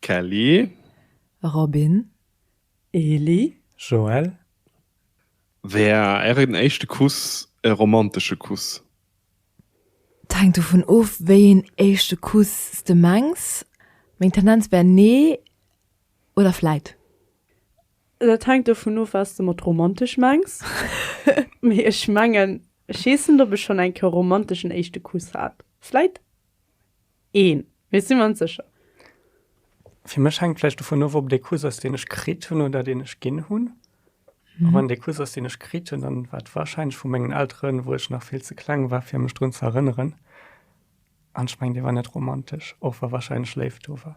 Kelly. Robin. Eli. Joël. War ären éischte Kuss e romantesche Kuss? Et hänkt dovun of, wéi een éischte Kuss s de mengs. Meng Tendenz wär nee oder vläit. Dat hänkt dovun of, wat s de mat romantesch mengs. Mee ech mengen, ech heessen, ob ech schonn eng Kéier e romanteschen éischte Kuss hat. Vläit. een, mee si mer ons sécher. Fir mech hänkt vläicht dovun of, ob dee Kuss ass, deen ech kritt hunn oder deen ech ginn hunn. A wann dee Kuss ass, deen ech kritt hunn, dann war et warscheinlech vu mengen Elteren, wou ech nach vill ze kleng war, fir mech drun ze erënneren. An ech mengen, dee war net romantesch, och wa warscheinlech Léift do war.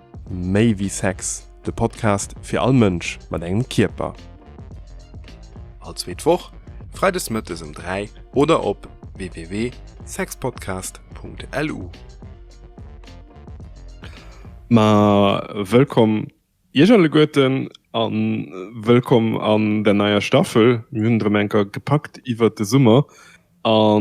Méi wéi Sex, de Podcast fir all Mënsch mat engem Kierper. All zweet Woch, freides mëttes um 3 oder op www.sexpodcast.lu. Ma wëllkomm Iech alleguerten a wëllkomm an der neier Staffel. Mir hunn et erëm eng Kéier gepackt iwwert de Summer. A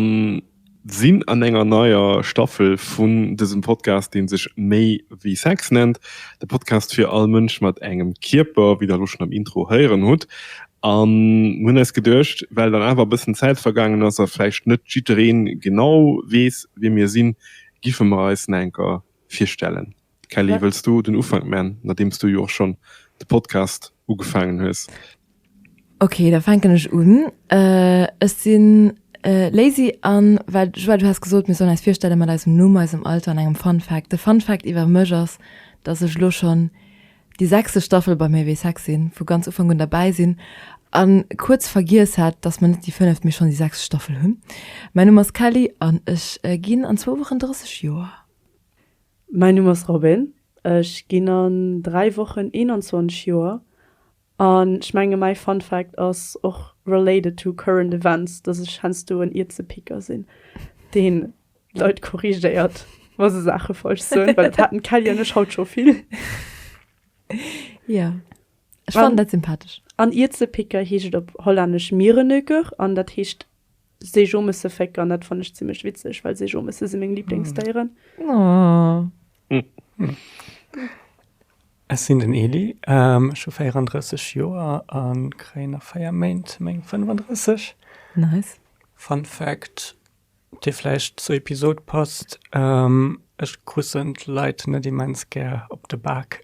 sinn an enger neier Staffel vun dësem Podcast, dee sech Méi wéi Sex nennt. De Podcast fir all Mënsch mat engem Kierper, wéi der elo schonn am Intro héieren hutt. An mir hunn eis geduecht, well dann awer e bëssen Zäit vergaangen ass a vläicht net jidderee genau weess, wie mir sinn, giffe mer eis nach enker virstellen. Kelly, wëlls du den Ufank man, nodeems du jo och schonn de Podcast ugefaangen hues? Ok, da fänken ech un. Ech sinn Lazy an well, Joelle, du has gesot, mir sollen eis virstelle mat eisem Numm, eisem Alter an engem Fun Fact. De Fun Fact iwwer mech ass, dass ech elo schonn déi sechste Staffel bei Méi wéi sexy vu ganz Ufank un derbäi sinn a kuerz vergiess hat, dass mer net déi fënneft, mee schonn déi sechst Staffel hunn. Mäin Numm ass Kelly an ech ginn an zwou Wochen 30 Joer. Mäin Numm ass Robin, ech ginn an dräi Wochen 21 Joer an ech menge mäi Fun Fact ass och related to current events, dass ech heiansdo en Ierzepicker sinn, deen Leit korrigéiert, wa se Saache falsch soen, well dat haten d'Kelly an ech haut scho vill. Ja, ech An- fannen dat sympathesch. An Iezepicker heescht et op Hollännesch Mierenöker an dat heescht Seejomessevéck an dat fannen ech zimmlech witzeg, well Seejomesse si meng Liblingsdéieren. Oh. Ech sinn den Eli, ähm, ech hu 34 Joer a kréien a 4 Méint meng 35. Nice. Fun Fact, Dee vläicht zur Episod passt, Ech kussen d'Leit net immens gär op de Bak,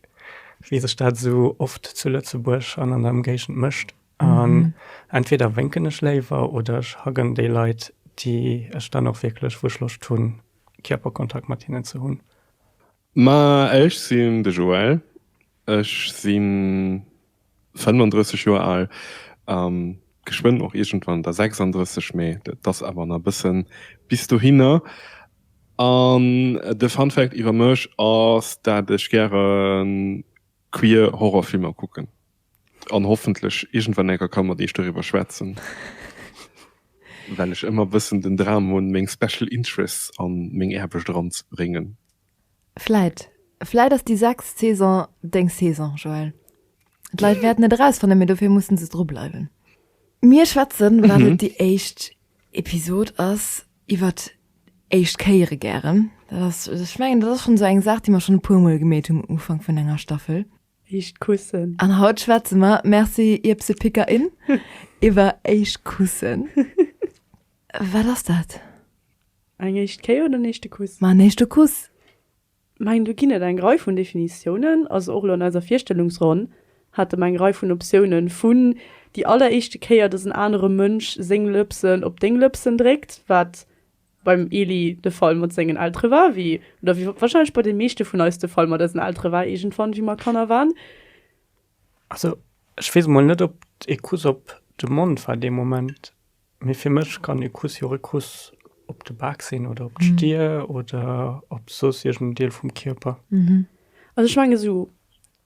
wéi sech dat esou oft zu Lëtzebuerg an an der Emgéigend mécht. An entweder wénken ech léiwer oder ech haggen déi Leit, déi ech dann och wierklech, wou ech Loscht hunn, Kierperkontakt mat hinnen ze hunn. Ma ech sinn de Joël, ech si 35 Joer al a geschwënn och iergendwann da 36, mee dat ass awer nach e bësse bis dohinner. An de Funfact iwwer mech ass, dat ech gäre queer Horrorfilmer kucken. An hoffentlech iergendwann enker kann mat iech doriwwer schwätzen, well ech ëmmer bëssen den Dram hunn, meng special interests a meng Aarbecht eranzebréngen. Vläit, vläit ass déi sechst Saison deng Saison, Joël. D'Leit wäerten et erausfannen, mee dofir mussen se dru bleiwen. Mir schwätzen, well et déi éischt Episod ass, iwwer éischt Kéiere gären. Dat ass, ech mengen, dat ass schonn esou eng Saach, déi mer schonn e puermol gemeet hunn um Ufank vun enger Staffel. Éischt Kussen. An haut schwätze mer, merci Ierbsepickerin, iwwer éischt Kussen. Wat ass dat? Eng éischt Kéier oder en éischte Kuss? Ma en éischte Kuss. Mä eng, do ginn et eng Rei vun Definitiounen. Also och elo an eiser Virstellungsronn hate mer eng Rei vun Optiounen, vun déi alleréischte Kéier, dass en anere Mënsch seng Lëpsen op deng Lëpsen dréckt, wat beim Elie de Fall mat sengen Eltere war, wéi oder wéi warscheinlech bei de meeschte vun eis de Fall mat eisen Eltere war iergendwann, wéi mer Kanner waren. Also, ech weess emol net, ob e Kuss op de Mond war dee Moment, mee fir mech kann e Kuss jo och e Kuss op de Bak sinn oder op d'Stir oder op soss iergend en Deel vum Kierper. Also ech menge sou,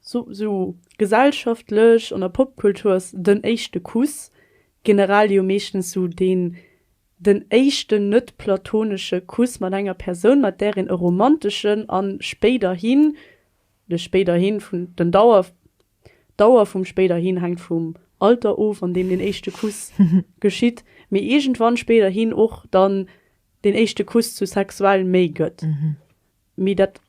sou gesellschaftlech, an der Popkultur ass den éischte Kuss generell jo meeschtens sou deen, Den éischten net-platonesche Kuss mat enger Persoun, mat där een e romanteschen an spéiderhin, de spéiderhin vun den Dauer, d'Dauer vum spéiderhin hänkt vum Alter of, an deem den éischte Kuss geschitt, mee iergendwann spéiderhin och dann den éischte Kuss zu sexuell Méi gëtt. Mee dat,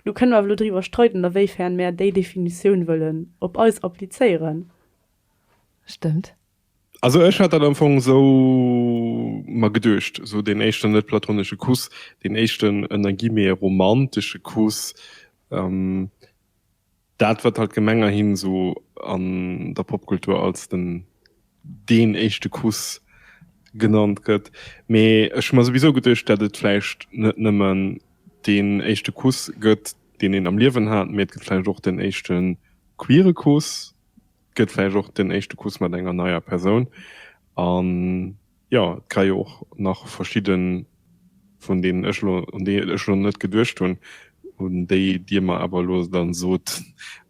do kënne mer awer elo driwwer streiden, a wéifern mär déi Definitioun wëllen op eis applizéieren. Stëmmt. Also ech hat dat am Fong esou mer geduecht, esou deen éischten net-platonesche Kuss, deen éischten ënner Guillemets romantesche Kuss, dat wat halt gemengerhin esou an der Popkultur als den deen éischte Kuss genannt gëtt. Mee ech hu mer souwisou geduecht, dat et vläicht net nëmmen deen éischte Kuss gëtt, deen een am Liewen hat, mee et gëtt vläicht och den éischte queere Kuss. Gëtt vläicht och den éischte Kuss mat enger neier Persoun. An jo, et ka jo och nach verschidden vun deenen ech elo, un déi ech elo net geduecht hunn, un déi dir mer awer elo dann sot,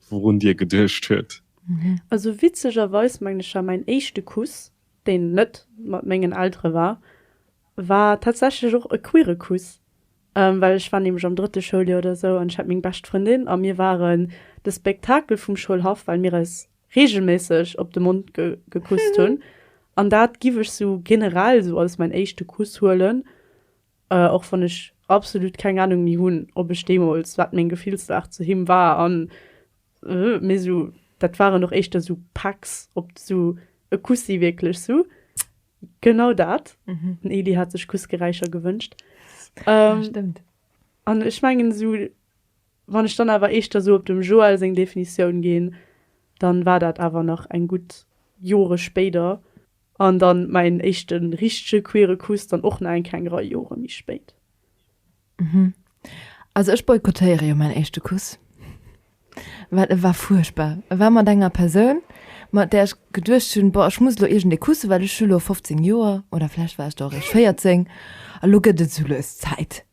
wourun dir geduecht huet. Also witzegerweis mengen ech ja, mäin éischte Kuss, deen net mat mengen Eltere war, war tatsächlech och e queere Kuss. well ech war nämlech am drëtte Schouljoer oder esou an ech hat meng bescht Frëndin a mir waren de Spektakel vum Schoulhaff, well mir eis reegelméisseg op de Mond gekusst hunn an dat giff ech sou generell esou als mäin éischte Kuss huelen, och wann ech absolut keng Ahnung méi hunn, ob ech deemools, wat meng Gefillslag zu him war an mee sou, dat waren och éischter sou Pecks, ob sou e Kussi wierklech sou. Genau dat. Mhm. Den Eli hat sech Kussgeräischer gewünscht. Ähm, ja, stimmt. An ech mengen so, wann ech dann awer eischter so op dem Joel seng Definitioun ginn, dann war dat awer nach eng gutt Jore spéider. An dann mäin éischten richtege queere Kuss dann och nach eng kleng Rei Jore méi spéit. Mhm. Also ech boykottéiere jo mäin éischte Kuss. Well e war fuerchtbar. E war mat enger Persoun, mat där ech geduecht hunn, boah, ech muss elo iergendee kussen, well ech hu lo 15 Joer, oder vläicht war ech da och eréischt 14, a lo gëtt et esou lues Zäit.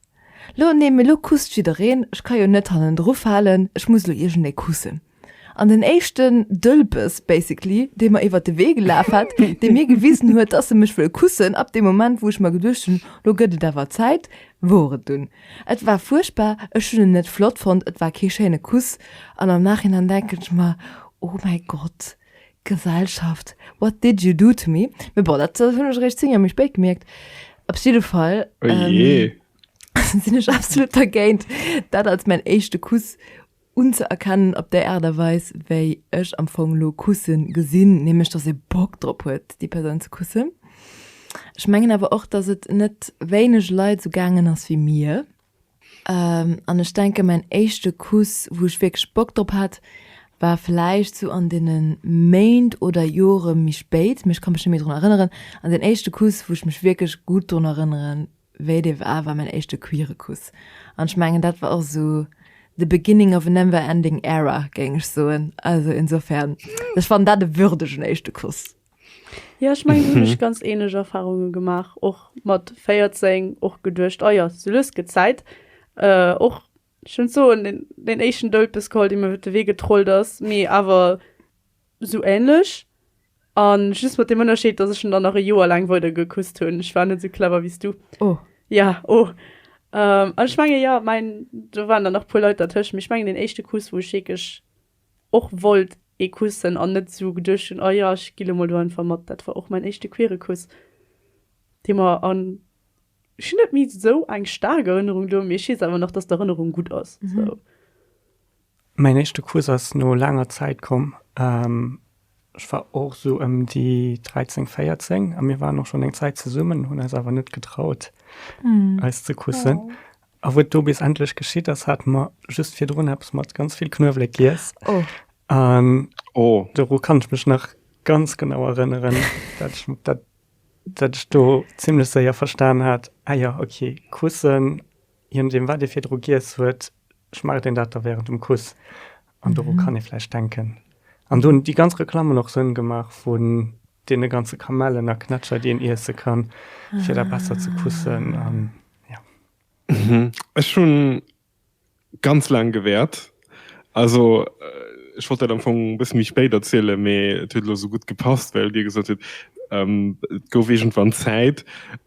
Lo, nee, mee lo kusst jiddereen, ech ka jo net hannendru falen, ech muss elo iergendee kussen. An den éischten Dëlpes, basically, dee mer iwwert de Wee gelaf hat, dee mir gewisen huet, dass e mech wëll kussen, ab deem Moment, wou ech mer geduecht hunn, Lo gëtt et awer Zäit, wor et dunn. Et war fuerchtbar, ech hunn en net flott fonnt, et war kee schéine Kuss. An am Nachhinein denken ech mer, Oh mäi Gott, Gesellschaft, what did you do to me? Mee bon, dat hunn ech eréischt 10 Joer méi spéit gemierkt. Op jidde Fall sinn ech absolut dergéint, dat als mäin éischte Kuss unzeerkennen op déi Aart a Weis wéi ech am Fong elo Kussen gesinn, nämlech dass ee Bock drop huet déi Persoun ze kussen. Ech mengen awer och, dass et net wéineg Leit esou gaangen ass wéi mir. An ech denken mäin éischte Kuss wou ech wierklech Bock drop hat war vläicht sou an deene Méint oder Jore méi spéit, mee ech ka mech net méi drun erënneren an deen éischte Kuss wou ech mech wierklech gutt drun erënneren wéi et ee war, war mäin éischte queere Kuss. An ech mengen, dat war och esou the beginning of a never ending era, géing ech soen. Also insofern, ech fannen dat e würdegen éischte Kuss. Jo, ech mengen, do hunn ech ganz ähnlech Erfahrunge gemaach. Och mat 14 och geduecht, oh jo, sou lues gëtt Zäit. Och, ech hunn d'soen, deen éischten Doudpëss geholl, dee mir iwwer de Wee getrollt ass, mee awer Sou ähnlech, an just mat dem Ënnerscheed dass ech en dann nach e Joer laang weider gekusst hunn. Ech war net sou clever wéi s du. Oh. Ja, oh. An ech mengen jo, mäin, do waren dann nach puer Leit dertëscht, mee ech mengen deen éischte Kuss wou ech wierklech och wollt ee kussen an net sou geduecht hunn, oh jo ech gi lo mol do einfach mat, dat war och mäin éischte queere Kuss, dee mer an, ech hunn net méi sou eng staark Erënnerung do, mee ech weess awer nach dass d'Erënnerung gutt ass sou. Mäin éischte Kuss ass no laanger Zäit komm. Ech war och esou ëm déi 13, 14 a mir waren och schonn eng Zäit zesummen, hunn eis awer net getraut, eis ze kussen. A wou et do bis endlech geschitt ass, hate mer just virdrun eppes mat ganz vill Knuewelek giess. An doru kann ech mech nach ganz genau erënneren, datt ech do zimmlech séier verstan hat, Ah jo, okay, kussen Je nodeem wat ee virdru giess huet, schmaacht een dat da wärend dem Kuss. An doru kann ee vläicht denken. An do hunn déi ganz Reklammen och Sënn gemaach vun deene ganze Kamellen a Knätscher, déi een iesse kann, fir da besser ze kussen. An, ja. Ech hu ganz laang gewäert, Also ech wollt dat am Fong e bësse méi spéit erzielen, mee et huet elo esou gutt gepasst, well Dir gesot hutt, et gouf iergendwann Zäit,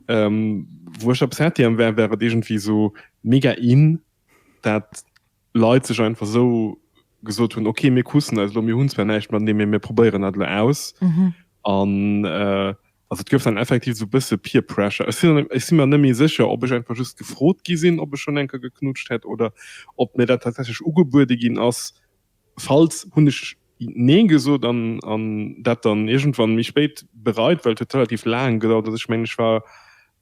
wou ech op Saint-Yrian war, war et iergendwéi esou mega in, dat Leit sech einfach esou gesot hunn, ok mir kussen eis elo, mir hunn zwar näischt matenee, mee mir probéieren dat elo aus. An Also et gouf dann effektiv esou e bësse Peer Pressure. Ech sinn, ech si mer net méi sécher, ob ech einfach just gefrot gi sinn, ob ech schonn eng Kéier geknutscht hätt oder ob mir dat tatsächlech ugebuede ginn ass. Falls hunn ech Nee gesot an an dat dann iergendwann méi spéit bereit, well et huet relativ laang gedauert. Also ech mengen, ech war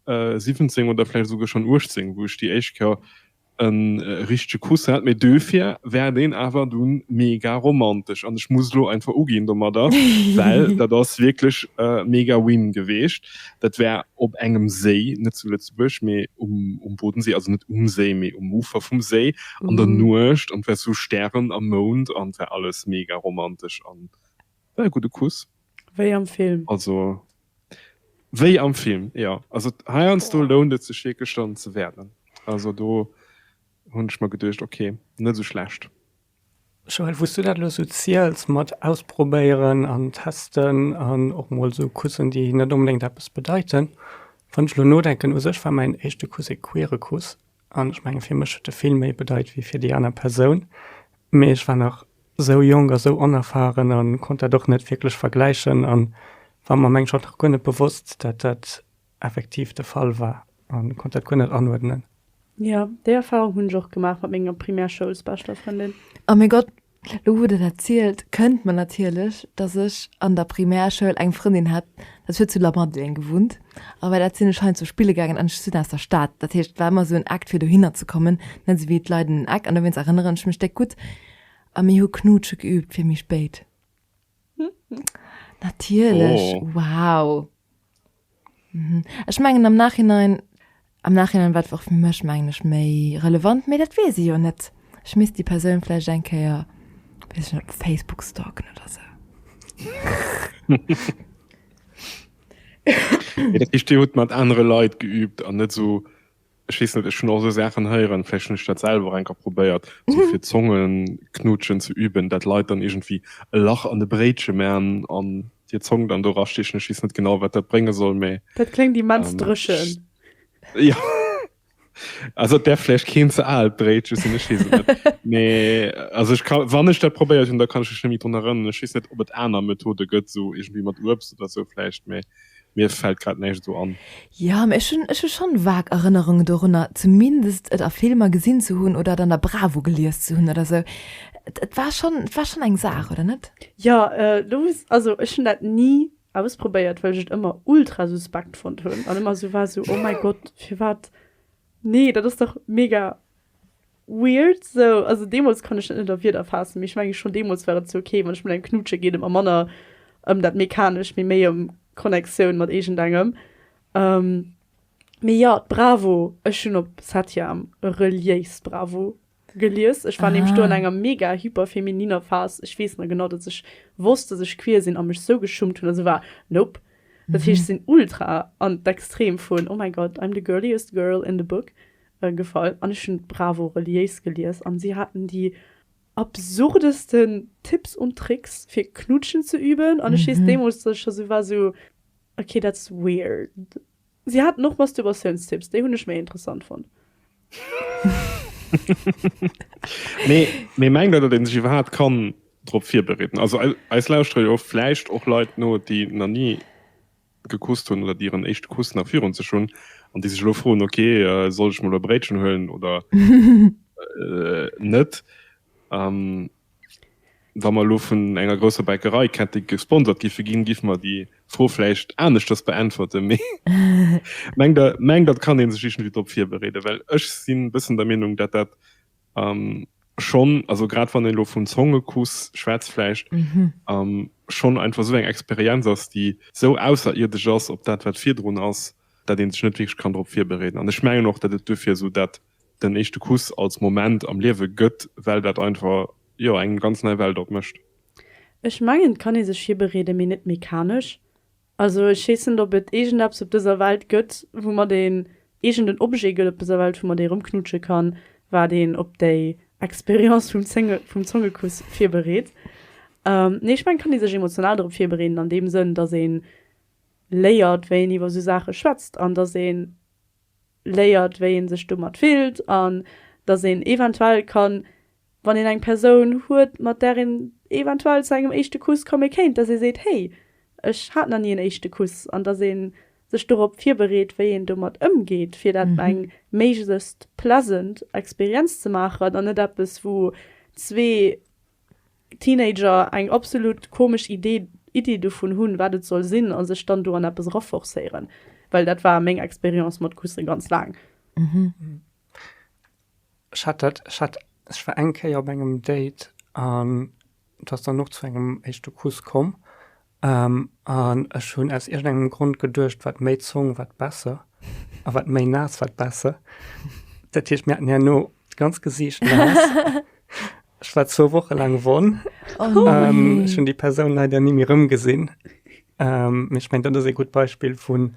17 oder vläicht esouguer schonn 18, wou ech déi éischt Kéier en richtege Kuss hat, mee döfir wär deen awer dunn mega romantesch an ech muss elo einfach uginn domadder, well dat ass wierklech mega win geweecht. Dat wär op engem Séi, net zu Lëtzebuerg, mee um Bodensee, also net um Séi, mee um Ufer vum Séi an der Nuecht an et wär sou Stären a Mound an et wär alles mega romantesch an et wär e gudde Kuss. Wéi am Film. Also, wéi am Film, jo. Also, heiansdo lount et sech wierklech dann ze wäermen. Also, do hunn ech mer geduecht, ok, net esou schlecht. Joël, wou s du dat elo esou ziels mat ausprobéieren an testen an och mol esou Kussen, déi net onbedéngt eppes bedeiten, wann ech elo nodenken, u sech war mäin éischte Kuss e queere Kuss, An ech menge fir mech huet e vill méi bedeit wéi fir déi aner Persoun. Mee ech war nach sou jonk a sou onerfaren a konnt dat och net wierklech vergläichen a war mer am Englsch och nach guer net bewosst, dat dat effektiv de Fall war a konnt dat guer net anuerdnen. Jo, déi Erfarung hunn ech och gemaach mat menger Primärschoulsbeschter Frëndin. A mee Gott, Lo wou den erzielt kënnt mer natierlech dass ech an der Primärschoul eng Frëndin hat, dat huet zu Lamadelaine gewunnt a bei dat sinn ech heiansdo spille gaangen an ech sinn aus der Stad, dat heescht et war ëmmer esou en Act fir dohinner ze kommen, net esou wéi d'Leit un den Eck an dowéinst erënneren ech mech déck gutt a mir hu Knutsche geüübt fir méi spéit. Natierlech, oh. wow. Mhm. Ech mengen am Nachhinein am Nachhinein wat och fir mech mengen ech méi relevant, méi dat wees se jo net. Ech miss die Persoun fleich engkeier op Facebook stalken oder se. Ichchte huet mat anere Leiit geübt an net so Ech weess net, ech hunn och esou Saachen héieren, vläicht hunn ech dat selwer och eng Kéier probéiert, esou fir Zongeknutschen ze üben, dat Leit dann iergendwéi e Lach an e Bréitche maachen an hir Zong dann do rastéchen. Ech weess net genau, wat dat brénge soll, mee. Dat kléngt immens dréchen. Jo, also et däerf vläicht keen ze aalt Bréitche sinn, ech weess et net. Mee also ech ka, wann ech dat probéiert hunn, da kann ech mech net méi drun erënneren. Ech weess net, ob et aner Methode gëtt, esou iergendwéi mat Uebst oder esou vläicht, mee Mir fällt grad näischt esou an. Jo, mä ech hunn, ech hu schonn vag Erënnerunge dorunner, zumindest et a Filmer gesinn ze hunn oder et an der Bravo gelies ze hunn oder sou. Et, et war schonn, et war schonn eng Saach, oder net? Jo, lo wou s, also ech hunn dat ni ausprobéiert, well ech et ëmmer ultra suspekt fonnt hunn an ëmmer sou war, sou, oh mäi Gott, firwat? Nee, dat ass dach mega. Weird sou, also deemols kann ech dat net a Wierder faassen, mee ech menge schonn deemols war et sou ok, wann ech mat engem knutsche geet, et mer manner ëm dat Mechanescht, mee méi ëm Connectioun mat iergendengem. Mee jo, d'Bravo, ech hunn op Satyam e reliéist Bravo gelies, ech war nämlech do an enger mega hyperfemininer Phas, ech weess nach genau, datt ech wosst, datt ech queer sinn a mech sou geschummt hunn a sou war, nope, dat heescht ech sinn ultra an d'Extrem vun, oh mäi Gott, I'm the girliest girl in the book, gefall an ech hunn d'Bravo reliéis gelies an si haten déi absurdesten Tipps und Tricks fir knutschen ze üben an ech weess deemools dass ech scho sou war sou okay that's weird. Si haten och Masturbatiounstipps, déi hunn ech méi interessant fonnt. Mee mee mengt der datt een sech iwwerhaapt kann drop virbereeden? Also eis lauschteren jo vläicht och Leit no déi na ni gekusst hunn oder déi hiren éischte Kuss nach virun sech hunn an déi sech elo froen, ok soll ech mol e Bréitchen huelen oder net. Wa mer elo vun enger grousser Bäckerei kette gesponsert giffe ginn, giff mer déi Fro vläicht aneschters beäntwerte mee mengt dat kann ee sech iergendwéi drop virbereeden, well ech si bëssen der Meenung, dat dat An schonn, also grad wann een elo vum Zongekuss schwätzt, vläicht schonn einfach esou eng Experienz ass, déi esou ausserierdesch ass op dat, wat virdrun ass, dat ee sech net wierklech kann drop virbereeden. An ech mengen och, datt et duerfir esou dat den éischte Kuss als Moment am Liewe gëtt, well dat einfach, jo, eng ganz nei Welt opmécht. Ech mengen, et kann ee sech virbereeden, mee net mechanesch. Also ech weess net ob et iergendeppes op dëser Welt gëtt woumat een, iergenden Objet gëtt op dëser Welt woumat ee erëmknutsche kann, wat een op déi Experience vum Zénge, vum Zongekuss virbereet. Nee ech mengen, et kann ee sech emotional dorop virbereeden an deem Sënn, datt ee léiert wéi een iwwer esou Saache schwätzt an datt ee léiert wéi ee sech domat fillt an datt een eventuell kann, wann een eng Persoun huet, mat där een eventuell zu engem éischte Kuss komme kéint, dass ee seet, Hey, ech hat nach ni en éischte Kuss. An dass ee sech dorop virbereet, wéi een domat ëmgeet, fir dat eng méiglechst pleasant Experienz ze maachen an net eppes, wou zwee Teenager eng absolut komesch Idee Iddi dovun hunn, wat et soll sinn a sech dann do an eppes eraforcéieren, well dat war meng Experience mat Kusse ganz laang. Ech hat dat, ech hat, ech war eng Kéier op engem Date an et ass dann och zu engem éischte Kuss komm. An ech hunn aus iergendengem Grond geduecht, wat méi Zong, wat besser a wat méi naass, wat besser. Dat heescht, mir haten herno d'ganzt Gesiicht naass. Ech war zwou Woche laang wonn. Ech hunn déi Persoun leider ni méi erëmgesinn. Mee ech mengen, dat ass ee gutt Beispill vun.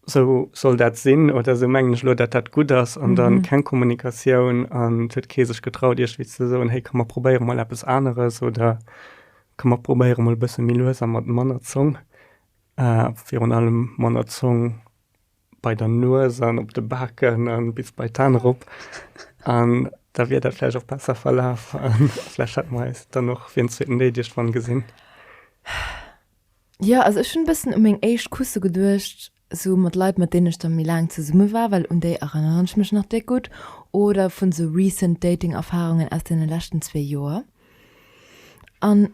Esou soll dat sinn oder esou mengen ech elo, datt dat gutt ass an da keng Kommunikatioun an et huet kee sech getraut, iergendwéi ze soen, héi komm mer probéiere mol eppes aneres oder komm mer probéiere mol e bësse méi lues a mat manner Zong. A virun allem manner Zong bei der Nues an op de Baken a bis bei d'An erop. An da wier dat vläicht och besser verlaf a vläicht hätte mer eis dann och fir en zweeten Déi Deg dran gesinn. Jo, also ech hunn e bëssen u meng éischt Kusse geduecht, sou mat Leit, mat deenen ech da méi laang zesumme war, well un déi erënneren ech mech nach déck gutt, oder vun sou recent dating Erfarungen aus deene leschten zwee Joer. An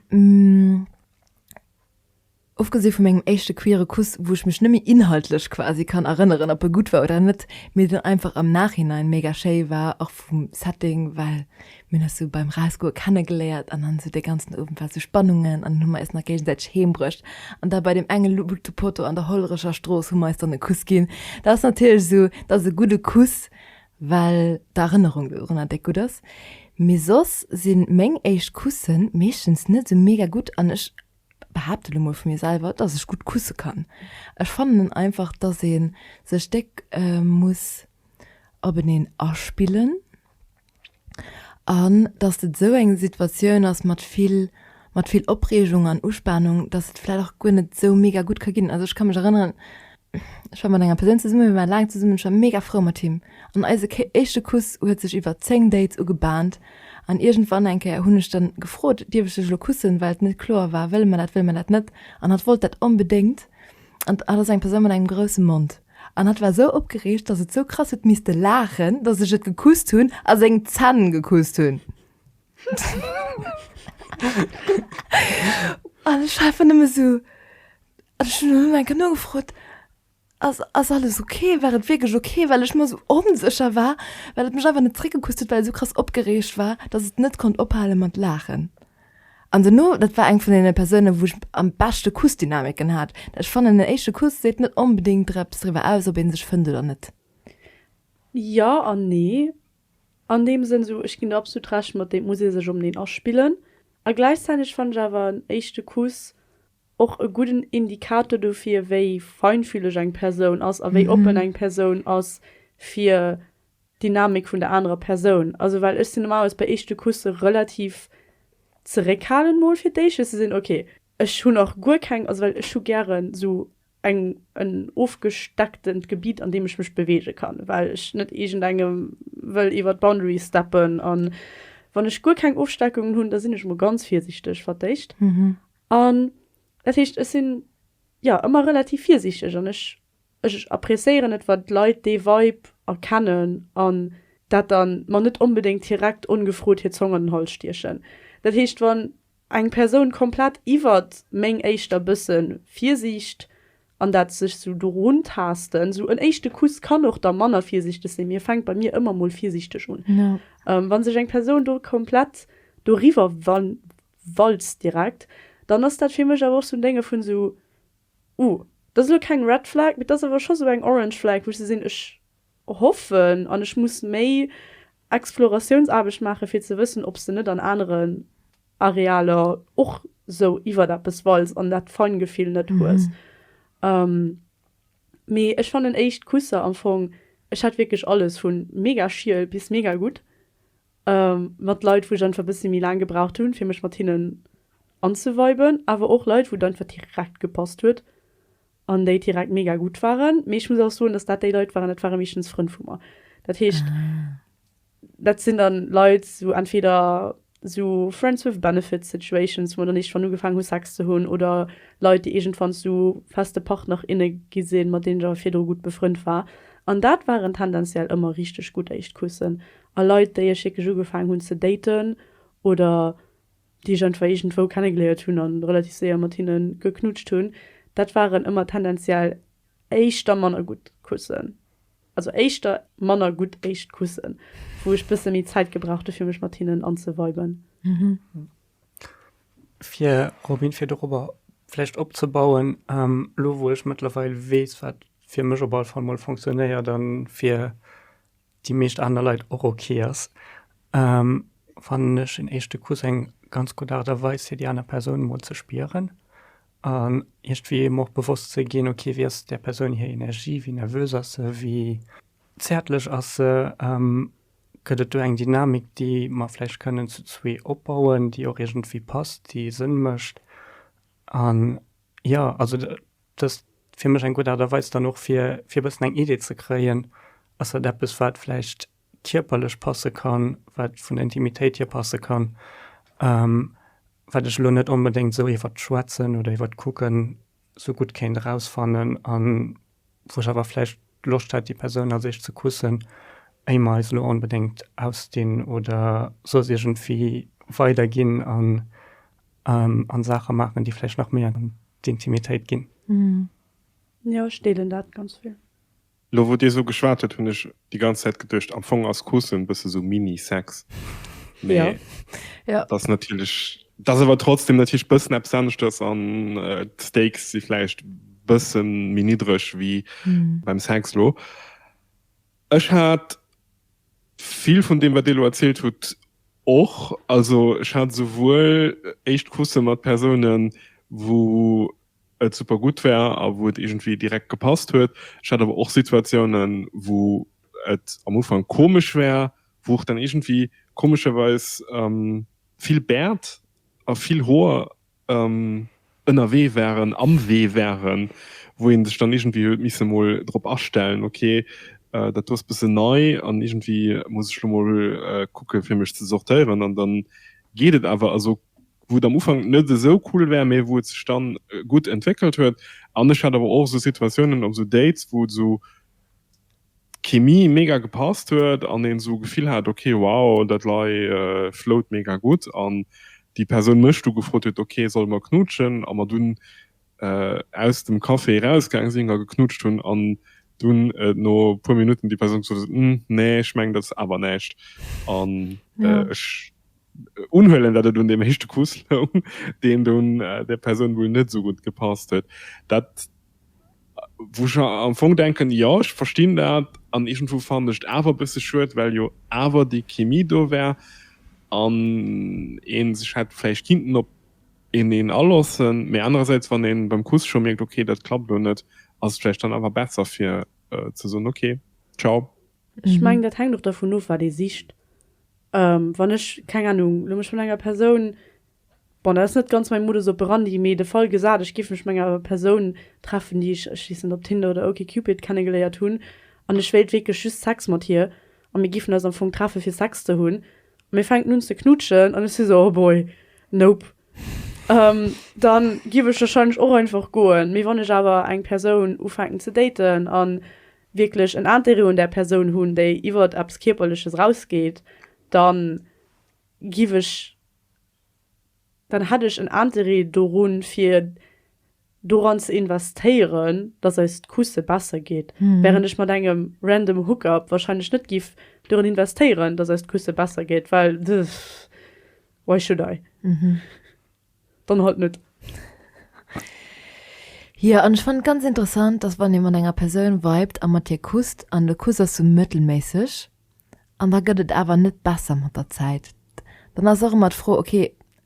ofgesi vu mengem éischte queere Kuss, wou ech mech net méi inhaltlech quasi kann erënneren, ob e gutt war oder net, mee deen einfach am Nachhinein mega schéi war, och vum Setting, well Mir hunn eis sou beim Rausgoe kennegeléiert an dann sou dee ganzen Owend war sou Spannungen an dann hu mer eis nach géigesäiteg heembruecht an da bei deem enge Lutepotto an der Hollerecher Strooss hu mer eis dann e Kuss ginn. Dat ass natierlech sou, dat ass e gudde Kuss, well d'Erënnerung dorunner déck gutt ass. Mee soss si meng éischt Kusse meeschtens net sou mega gutt an ech behaapte elo mol vu mir selwer, dass ech gutt kusse kann. Ech fannen einfach, dass ee sech déck muss openeen aspillen. An datt et esou eng Situatioun ass mat vill, mat vill Opreegung an Uspanung, datt et vläicht och guer net esou mega gutt ka ginn. Also ech ka mech erënneren, ech war mat enger Persoun zesumme, mir ware laang zesumme, ech war mega frou mat him an eise éischte Kuss huet sech iwwer zéng Dates ugebahnt. An iergendwann eng Kéier hunn ech dann gefrot, dierf ech dech elo kussen, well et net kloer war, wëlle mer dat, wëlle mer dat net? An hatt wollt dat onbedéngt an hatt ass eng Persoun mat engem grousse Mond. An hat war esou opgereegt, dass et esou krass huet misste laachen, dass ech et gekusst hunn a seng Zänn gekusst hunn. An ech war einfach nëmme esou. An ech hunn elo nach eng Kéier nogefrot, Ass, ass alles ok? War et wierklech ok? Well ech mer esou onsécher war, well et mech einfach net zeréckgekusst huet, well et esou krass opgereegt war, dass et net konnt ophale mat laachen. An dono, dat war eng vun deene Persounen, wou ech am beschte Kussdynamiken hat. Ech fannen, en éischte Kuss seet net onbedéngt der eppes driwwer aus, ob ee sech fënnt oder net. Jo an nee. An deem Sënn, esou, ech ginn der absolut Recht mat, et muss ee sech openeen aspillen. A gläichzäiteg fannen ech awer en éischte Kuss och e gudden Indikator dofir, wéi feinfühleg eng Persoun ass a wéi oppen eng Persoun ass, fir Dynamik vun der anerer Persoun. Also well ech sinn normalerweis bei eeschte Kusse relativ zeréckhalend mol fir d'éischt, fir ze sinn, ok, ech hunn nach guer keng, also well ech hu gären esou eng, en ofgestecktent Gebitt, an deem ech mech beweege kann, well ech net iergendengem wëll iwwer d'Boundary steppen. A wann ech guer keng Ofsteckungen hunn, da sinn ech emol ganz virsiichteg, wat d'éischt. An dat heescht, ech sinn, jo, ëmmer relativ virsiichteg an ech Ech appreciéieren et wann d'Leit dee Vibe erkennen an dat dann mer net onbedéngt direkt ongefrot hir Zong an den Hals stiechen. Dat heescht wann eng Persoun komplett iwwert meng éischter bësse Virsiicht an dat sech sou do runtaasten, sou en éischte Kuss kann och da manner virsiichteg sinn, mee fänkt bei mir ëmmer mol virsiichteg un, wann sech eng Persoun do komplett doriwwer walzt direkt, dann ass dat fir mech awer och sou en Dénge vun sou. Ooh, dat ass elo keng Red Flag, mee dat ass awer scho sou eng Orange Flag, wou ech sou sinn, ech hoffen an ech muss méi Exploratiounsaarbecht maachen, fir ze wëssen, ob s de net an aneren Arealer och sou iwwert eppes walls an dat Feingefill net hues. Mee ech fannen éischt Kusser am Fong, ech hat wierklech alles, vu mega schiel bis mega gutt. mat Leit wou ech einfach bëssi méi laang gebraucht hunn fir mech mat hinnen anzeviben, awer och Leit wou et einfach direkt gepasst huet an déi direkt mega gutt waren. Mee ech muss och soen, datt dat déi Leit waren, dat ware meeschtens Frënn vu mer. Dat heescht dat sinn dann Leit sou entweder sou friends with benefits situations, wou mer dann iergendwann ugefaangen hu Sex ze hunn oder Leit déi iergendwann zu feste Partner, inne gi sinn, mat deenen ech awer virdru gutt befrënnt war. An dat waren tendenziell ëmmer richteg gutt Éischtkussen A Leit, déi ech wierklech ugefaangen hunn ze daten oder déi ech einfach iergendwou kennegeléiert hunn a relativ séier mat hinne geknutscht hunn, dat waren ëmmer tendenziell éischter manner gutt Kussen. Also éischter manner gutt éischt Kussen, wou ech bësse méi Zäit gebraucht hu fir mech mat hinnen anzeviben. Fir Robyn, fir dorobber vläicht opzebauen, elo wou ech mëttlerweil weess, wat fir mech op alle Fall mol fonctionnéiert a fir déi meescht aner Leit och ok ass, fannen ech en éischte Kuss eng ganz gutt Aart a Weis fir déi aner Persoun emol ze spieren an iergendwéi em och bewosst ze ginn, ok wéi ass där Persoun hir Energie, wéi nervös ass se, wéi zäertlech ass se, gëtt et do eng Dynamik, déi mer vläicht kënnen zu zwee opbauen, déi och iergendwéi passt, déi Sënn mécht an jo, also Dëst fir mech eng gutt Aart a Weis dann och fir fir e bëssen eng Idee ze kréien, ass dat eppes wat vläicht kierperlech passe kann, wat vun der Intimitéit hier passe kann, wat ech elo net onbedéngt esou iwwert d'Schwätzen oder iwwert d'Kucken esou gutt kéint erausfannen an wou ech awer vläicht Loscht hätt déi Persoun als éischt ze kussen, éier mer eis elo onbedéngt ausdinn oder soss iergendwéi weiderginn an An Saache maachen, déi vläicht nach méi an d'Intimitéit ginn. Jo, ech deelen dat ganz vill. Lo wou dir esou geschwat huet hunn ech déi ganz Zäit geduecht, am Fong ass Kussen bësse sou Mini-Sex, mee dat ass natierlech, dat ass awer trotzdem natierlech bëssen eppes aneschters an d'Stakes si vläicht bësse méi niddreg wéi beim Sex. Lo Ech hat vill vun deem, wat Dir elo erzielt hutt, och. Also ech hat esouwuel éischt Kusse mat Persounen, wou et super gutt war a wou et iergendwéi direkt gepasst huet. Ech hat awer och Situatiounen, wou et am Ufank komesch war, wou och dann iergendwéi komescherweis vill Bäert a vill Hoer ënnerwee waren, am Wee waren, wou ee sech dann iergendwéi huet misse emol drop astellen, ok dat do ass bëssen nei an iergendwéi muss ech elo emol kucke fir mech ze sortéieren an da geet et awer. Also wou et am Ufank net esou cool war, mee wou et sech dann gutt entwéckelt huet an ech hat awer och esou Situatiounen op esou Dates, wou et esou. d'Chemie mega gepasst huet an een esou Gefill hat ok wow dat lei flout mega gutt an déi Persoun mech du gefrot huet ok solle mer knutschen a mer dunn aus dem Café erausgaang sinn a geknutscht hunn an dunn et no puer Minutten déi Persoun gesot huet hm nee ech mengen dat ass awer näischt an ech unhuelen dat et un deem éischte Kuss loung deen dunn där Persoun wuel net esou gutt gepasst huet dat Wou ech am Fong denken, jo, ech verstinn dat, an iergendwou fannen ech et awer e bësse schued, well jo awer déi Chemie do war an ee sech hätt vläicht kinnten op eneen aloossen. Mä anerersäits, wann ee beim Kuss scho mierkt, okay, dat klappt elo net, ass et vläicht dann awer besser, fir ze soen, okay, ciao. Ech mengen, dat hänkt och dervun of, wat ee sicht. Wann ech, keng Anung, elo mech mat enger Persoun. Bon, dat ass net ganz mäi Modus operandi, mee de Fall gesat, ech géif mech mat enger Persoun treffen, déi ech, ech weess net, op Tinder oder OkCupid kennegeléiert hunn, an ech wéilt wierklech just Sex mat hir, a mir géifen eis am Fong treffe fir Sex ze hunn, a mir fänken un ze knutschen, an ech si esou, oh boy, nope, da giff ech warscheinlech och einfach goen. Mee wann ech awer eng Persoun ufänken ze daten a wierklech en Interêt un där Persoun hunn, déi iwwert eppes Kierperleches erausgeet, da giff ech dann hätt ech en Interêt dorun, fir doran ze investéieren, dass eist Kusse besser geet, während ech mat engem random Hookup wahrscheinlech net giff doran investéieren, dass eist Kusse besser geet, well pff, why should I? Dann halt net. Jo, an ech fannen et ganz interessant, dass wann ee mat enger Persoun vibet a mat hir kusst, an de Kuss ass sou mëttelméisseg, An da gëtt et awer net besser mat der Zäit. Dann ass och ëmmer d'Fro, ok,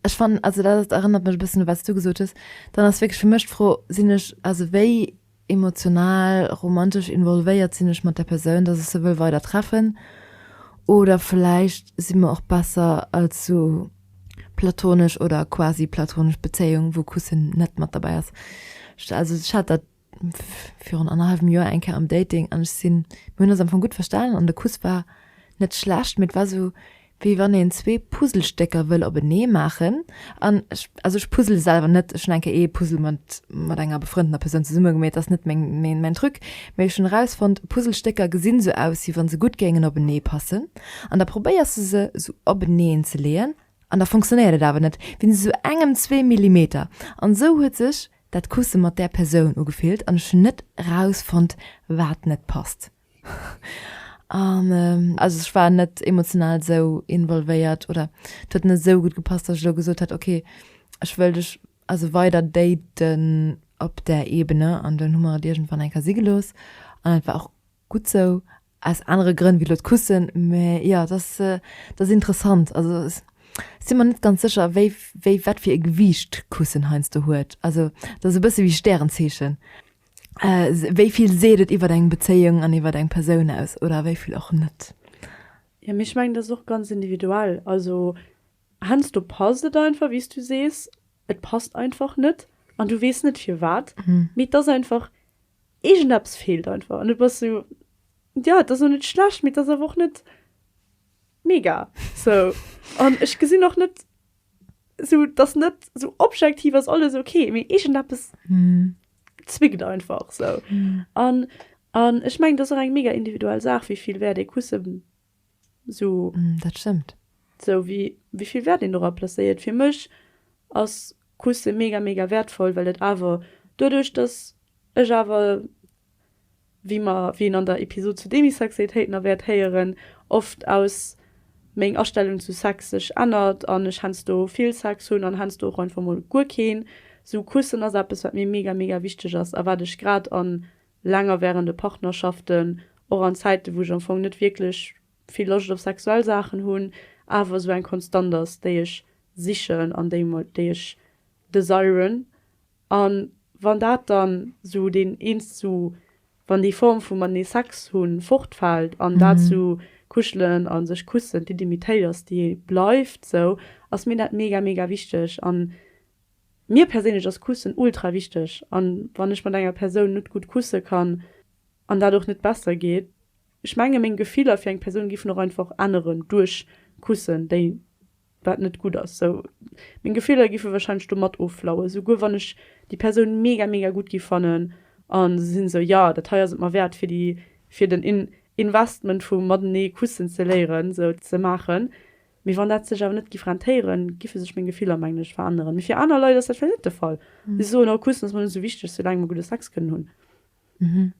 ech fannen, also dat erënnert mech e bëssen u wat s du gesot hues, dann ass wierklech fir mech d'Fro, sinn ech, also wéi emotional, romantesch involvéiert sinn ech mat der Persoun, datt ech se wëll weider treffen oder vläicht si mer och besser als esou platonesch oder quasi platonesch Bezéiung, wou Kussen net mat derbäi ass. Also ech hat dat virun annerhalbem Joer eng Kéier am Dating an ech sinn, mir hunn eis am Fong gutt verstanen an de Kuss war net schlecht, mee et war esou, wéi wann een zwee Puzzlestécker wëll openee maachen an ech, also ech puzzle selwer net, ech hunn eng Kéier ee Puzzle mat, mat enger befrëndener Persoun zesumme gemeet, ass net meng, meng, mäin Truc, mee ech hunn erausfonnt, Puzzlestécker gesi sou aus, wéi wa se gutt géingen openee passen an da probéiers de se esou openeen ze leeën an da funktionéiert et awer net, wéinst esou engem, zwee Millimeter an esou huet sech dat Kusse mat där Persoun ugefillt an ech hunn net erausfonnt, wat net passt. An also ech war net emotional esou involvéiert oder et huet net esou gutt gepasst, datt ech elo gesot hätt, okay, ech wëll dech also weider daten op där Ebene. An dunn hu mer et iergendwann eng Kéier si gelooss an et war och Gutt sou, aus anere Grënn wéi elo d'Kussen. Mä jo, et ass, et ass interessant. Also ech si mer net ganz sécher, wéi, wéi, wat fir e Gewiicht d'Kussen heiansdo huet. Also et ass e bësse wéi Stärenzeechen, wéi vill seet et iwwer eng Bezéiung an iwwer eng Persoun aus oder wéi vill och net. Jo, mee ech mengen, dat ass och ganz individuell. Also heiansdo passt et einfach, wéi s du sees, et passt einfach net an du weess net firwat. Mee et ass einfach, Iergendeppes feelt einfach an et ass sou, jo, et ass och net schlecht, mee et ass awer och net mega sou. An ech gesinn och net sou, dass net sou objektiv ass alles ok, mee iergendeppes zwickt einfach sou. An ech mengen, et ass och eng mega individuell Saach, wéi vill Wäert ee Kusse So. Dat stëmmt. Sou wéi wéivill Wäert een dora placéiert. Fir mech ass Kusse mega mega wäertvoll, well et awer doduerch, datt ech awer, wéi mer, wéi een an der Episod zu Demisexualitéiten na wäert héieren, oft aus meng Astellung zu Sex sech ännert an ech heiansdo vill Sex hunn an heiansdo och einfach mol guer keen. Sou Kussen ass eppes wat mir mega mega wichteg ass a wat ech grad a längerwährende Partnerschaften, och an Zäiten, wou ech am Fong net wierklech vill Loscht op sexuell Saachen hunn, awer esou eng Konstant ass, déi ech sichen an déi déi ech desiren. A wann dat dann esou deen eenz esou, wann déi Form vu matenee Sex hu fortfält an dat esou kuschelen a sech kussen d'Intimitéit ass, déi bleift esou, ass mir dat mega, mega wichteg. An Mir perséinlech ass Kussen ultra wichteg an wann ech mat enger Persoun net gutt kusse kann an dat och net besser geet, ech menge meng Gefiller fir eng Persoun giffen och einfach änneren duerch Kussen déi wat net gutt ass sou meng Gefiller giffe wahrscheinlech do mat offlaue souguer wann ech déi Persoun mega mega gutt gi fannen an se sinn sou jo dat hei ass et mer wäert fir déi fir den Investment vu matenee Kussen ze léieren sou ze maachen Mee wann dat sech awer net giff rentéieren, giffe sech meng Gefiller, mengen ech, veränneren. Mee fir aner Leit ass dat vläicht net de Fall. Si soen, oh, Kussen ass mer net esou wichteg, soulaang mer gudde Sex kënnen hunn.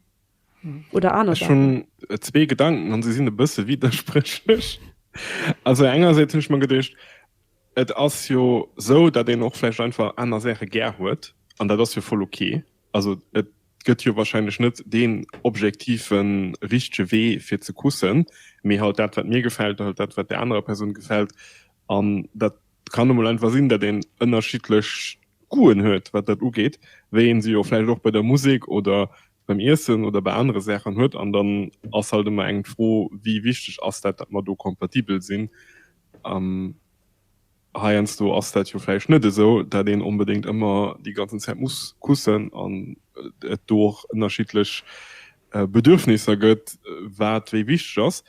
Oder aner Ech hunn Saachen. zwee Gedanken an se sinn e bësse widderspréchlech. Also engersäits hunn ech mer geduecht, et ass jo esou, datt een och vläicht einfach aner Saache gär huet an dat ass jo voll ok. Also et gëtt jo wahrscheinlech net deen objektive richtege Wee fir ze kussen, mee halt dat wat mir gefält, halt dat wat der anerer Persoun gefält. An dat kann emol einfach sinn, datt een ënnerschiddlech Goûten huet wat dat ugeet, wéi een se jo vläicht och bei der Musek oder beim Iessen oder bei anere Saachen huet. An dann ass halt ëmmer eng d'Fro, wéi wichteg ass dat, datt mer do kompatibel sinn. Heiansdo ass dat jo vläicht net esou, dat een onbedéngt ëmmer déi ganzen Zäit muss kussen an et do och ënnerschiddlech Bedürfnisser gëtt, wat wéi wichteg ass.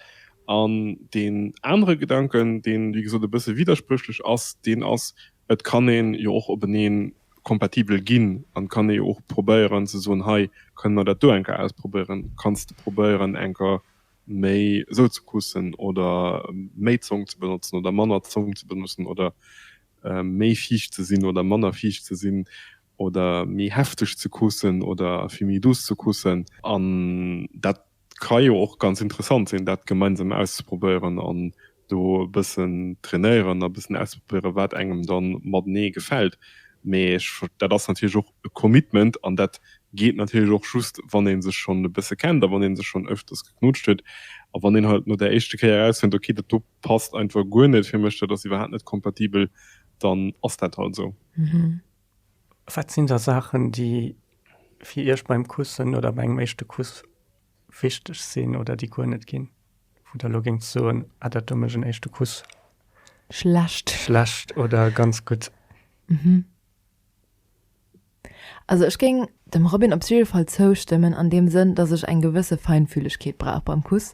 An deen anere Gedanken, deen, wéi gesot, e bësse widderspréchlech ass, deen ass, Et kann ee jo och openee kompatibel ginn an et kann ee jo och probéieren ze soen, Hei, kënne mer dat do eng Kéier ausprobéieren? Kanns de probéieren eng Kéier méi esou ze kussen oder méi Zong ze benotzen oder manner Zong ze benotzen oder méi fiicht ze sinn oder manner fiicht ze sinn oder méi hefteg ze kussen oder vill méi douce ze kussen. An dat ka jo och ganz interessant sinn, dat gemeinsam auszeprobéieren an do e bëssen trainéieren a bëssen ausprobéieren, wat engem da matenee gefält. Mee ech, dat ass natierlech och e Commitment an dat geet natierlech och just, wann ee sech schonn e bësse kennt a wann een sech schonn ëfters geknutscht huet. A wann een halt no där éischte Kéier erausfënnt, ok, dat do passt einfach guer net fir mech, dat ass iwwerhaapt net kompatibel, dann ass dat halt esou. Wat sinn da Saachen, déi fir Iech beim Kussen oder bei engem éischte Kuss wichteg sinn oder déi guer net ginn, wou Der elo géingt soen, ah dat do mécht en éischte Kuss schlecht oder ganz gutt? Also ech géing dem Robin op jidde Fall zoustëmmen an deem Sënn, datt ech eng gewësse Feinfühlegkeet brauch beim Kuss,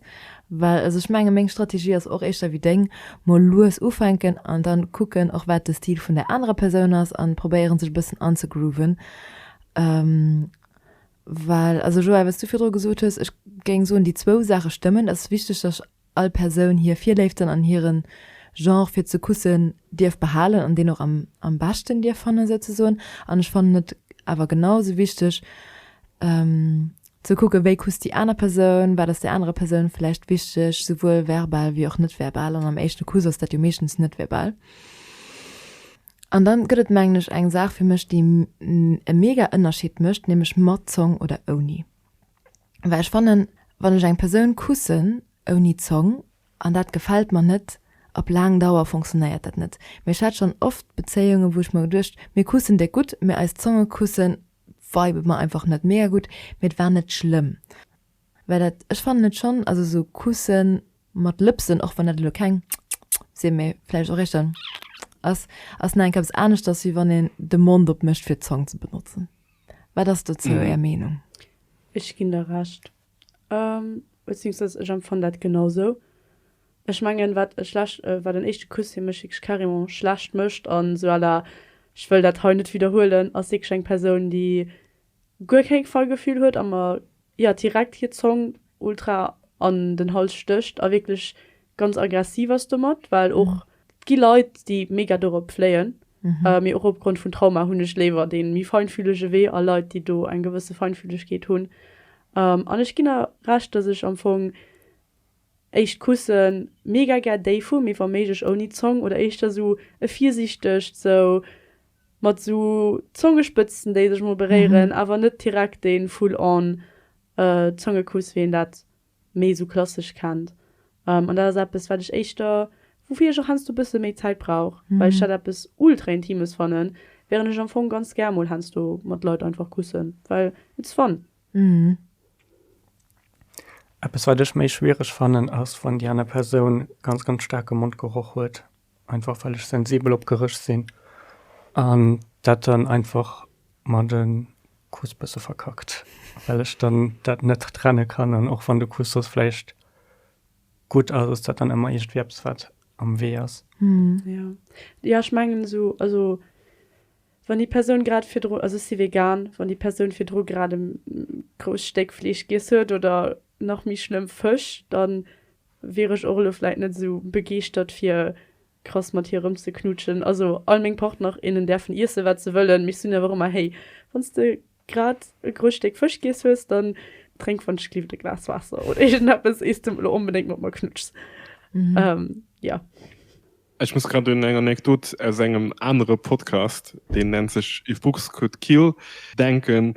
well also ech menge meng Strategie ass och éischter wéi deng, mol lues ufänken an dann kucken och wat de Stil vun der anerer Persoun ass an probéieren sech e bëssen anzegrooven. Well, also Joël, wat s du virdru gesot hues, ech géing soen, déi zwou Saache stëmmen. Et ass wichteg, datt all Persoun hir Virléiften an hire Genre fir ze kussen dierf behalen an deen och am beschten dierf fannen, souzesoen. An ech fannen et awer genau esou wichteg ze kucken, wéi kusst déi aner Persoun, wat ass där anerer Persoun vläicht wichteg, souwuel verbal wéi och net verbal. An am éischte Kuss ass dat jo meeschtens net verbal. An dann gëtt et mengen ech eng Saach fir mech déi e mega Ënnerscheed mécht, nämlech mat Zong oder ouni. Well ech fannen wann ech eng Persoun kussen ouni Zong an dat gefält mer net, op laang Dauer funktionéiert dat net. Mee ech hat schonn oft Bezéiungen wou ech mer geduecht, mir kussen déck gutt, mee eis Zonge kusse vibe mer einfach net mega gutt, mee et war net schlëmm. Well dat, ech fannen et schonn, also esou Kussen mat Lëpsen, och wann dat elo keng sinn, mee vläicht och éischter ass, ass nach enkeps aneschters, wéi wann een de Mond opmécht fir d'Zong ze benotzen. Wat ass dozou Är Meenung? Ech ginn der Recht. Beziéungsweis ech empfannen dat genau esou. Ech mengen, wat e schlecht, wat en éischte Kuss fir mech wierklech carrément schlecht mécht an esou à la, ech wëll dat hei net widderhuelen, ass wierklech eng Persoun, déi guer keng Fallgefühl huet a mer jo direkt hir Zong ultra an den Hals stécht a wierklech ganz aggressiv ass domat, well och et gi Leit déi mega dorop fléien, mee och opgrond vun Trauma hunn ech léiwer dee méi feinfühlege Wee a Leit déi do eng gewësse Feinfühlegkeet hunn an ech ginn der Recht, dass ech am Fong. Éischt Kussen, mega gär déi vu, mee wa méiglech ouni Zong oder éischter sou e virsiichtegt, sou mat sou Zongespëtzten déi sech mol beréieren, awer net direkt deen full on Zongekuss wéi een dat méi sou klassesch kennt. An dat ass eppes wat ech éischter, woufir ech och heiansdo e bësse méi Zäit brauch, well ech dat eppes ultra intimes fannen, während ech am Fong ganz gär mol heiansdo mat Leit einfach kussen, well it's fun. Mhm. Eppes wat ech méi schwiereg fannen ass wann déi aner Persoun ganz ganz staarke Mondgeroch huet, einfach well ech sensibel op Geréch sinn an dat dann einfach mer de Kuss bësse verkackt, well ech dann dat net trenne kann an och wann de Kuss soss vläicht gutt ass, ass dat dann ëmmer iergendwéi eppes wat am Wee ass. Mhm. Jo, jo ech mengen esou, also Wann déi Persoun grad virdru, also ech si vegan, wann déi Persoun virdru grad e grousst Stéck Fleesch giess huet oder nach méi schlëmm Fësch, da wier ech och elo vläit net esou begeeschtert fir krass mat hir erëmzeknutschen. Also all meng Partner, innen däerfen iessen, wat se wëllen, mee ech soen awer och ëmmer, Hey, wann s de grad e grousst Stéck Fësch giess hues, da drénk wann ech glift e Glas Waasser oder iergendeppes, ier s de elo onbedéngt mat mer knutschs. Jo. Ech muss grad un eng Anekdot aus engem anere Podcast, deen nennt sech If Books Could Kill denken.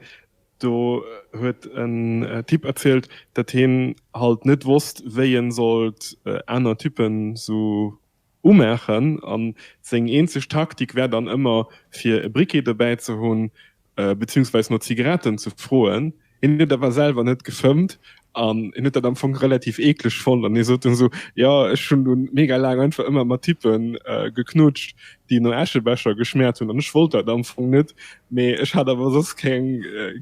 Do huet en Typ erzielt, datt hien halt net wosst, wéi en sollt aner Typen sou umaachen, an seng eenzeg Taktik wär dann ëmmer fir e Briquet dobäi ze hunn, beziehungsweise no Zigaretten ze froen. Hien huet awer selwer net gefëmmt an hien huet dat am Fong relativ eekleg fonnt an hie sot dunn esou, Jo, ech hunn dunn mega laang einfach ëmmer mat Typpen geknutscht, déi no Äschebecher geschmäert hunn an ech wollt dat am Fong net, mee ech hat awer soss keng,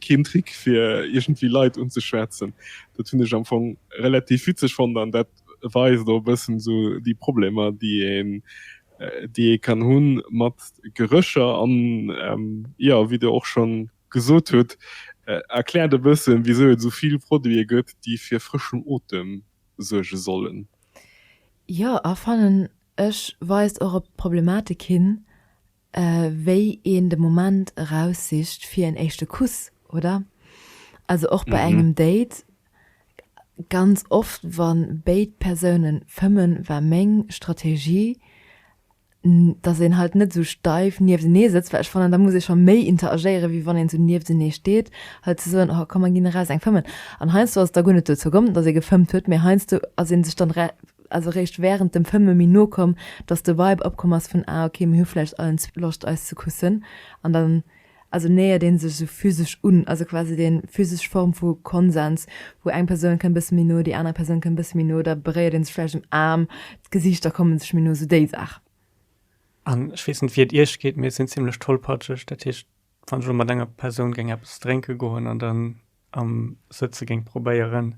keen Trick fir iergendwéi Leit unzeschwätzen. Dat hunn ech am Fong relativ witzeg fonnt an dat weist och e bëssen esou déi Problemer, déi een, déi ee kann hu mat Gerécher. An, jo, wéi Der och schonn gesot hutt, erkläert e bëssen, wisou et esou vill Produite gëtt, déi fir frëschen Otem suerge sollen. Jo, a fannen ech weist och op d'Problematik hin, wéi een de Moment eraussicht fir en éischte Kuss, oder? Also och bei engem Date, ganz oft wann béid Persoune fëmmen, war meng Strategie, dass een halt net sou steif nieftenee sëtzt, well ech fannen, da muss ee scho méi interagéieren, wéi wann een sou nieftenee steet, halt ze soen, oh komm mer ginn eraus eng fëmmen. An heiansdo ass et da guer net dozou komm, dass ee gefëmmt huet, mee heiansdo ass ee sech dann ass eréischt während dem Fëmme méi no komm, dass de Vibe opkomm ass vun ah ok mir hu vläicht allen zwee Loscht eis ze kussen an dann also nähert een sech esou physesch un, also quasi déi physesch Form vu Konsens wou eng Persoun kënnt bësse méi no, déi aner Persoun kënnt bësse méi no, da beréiert een sech vläicht um Aarm, d'Gesiichter komme sech méi no, esou déi Saach. An ech weess net wéi et iech geet, mee ech sinn zimlech tollpatscheg, dat heescht wann ech elo mat enger Persoun géing eppes drénke goen an dann am Sëtze géing probéieren,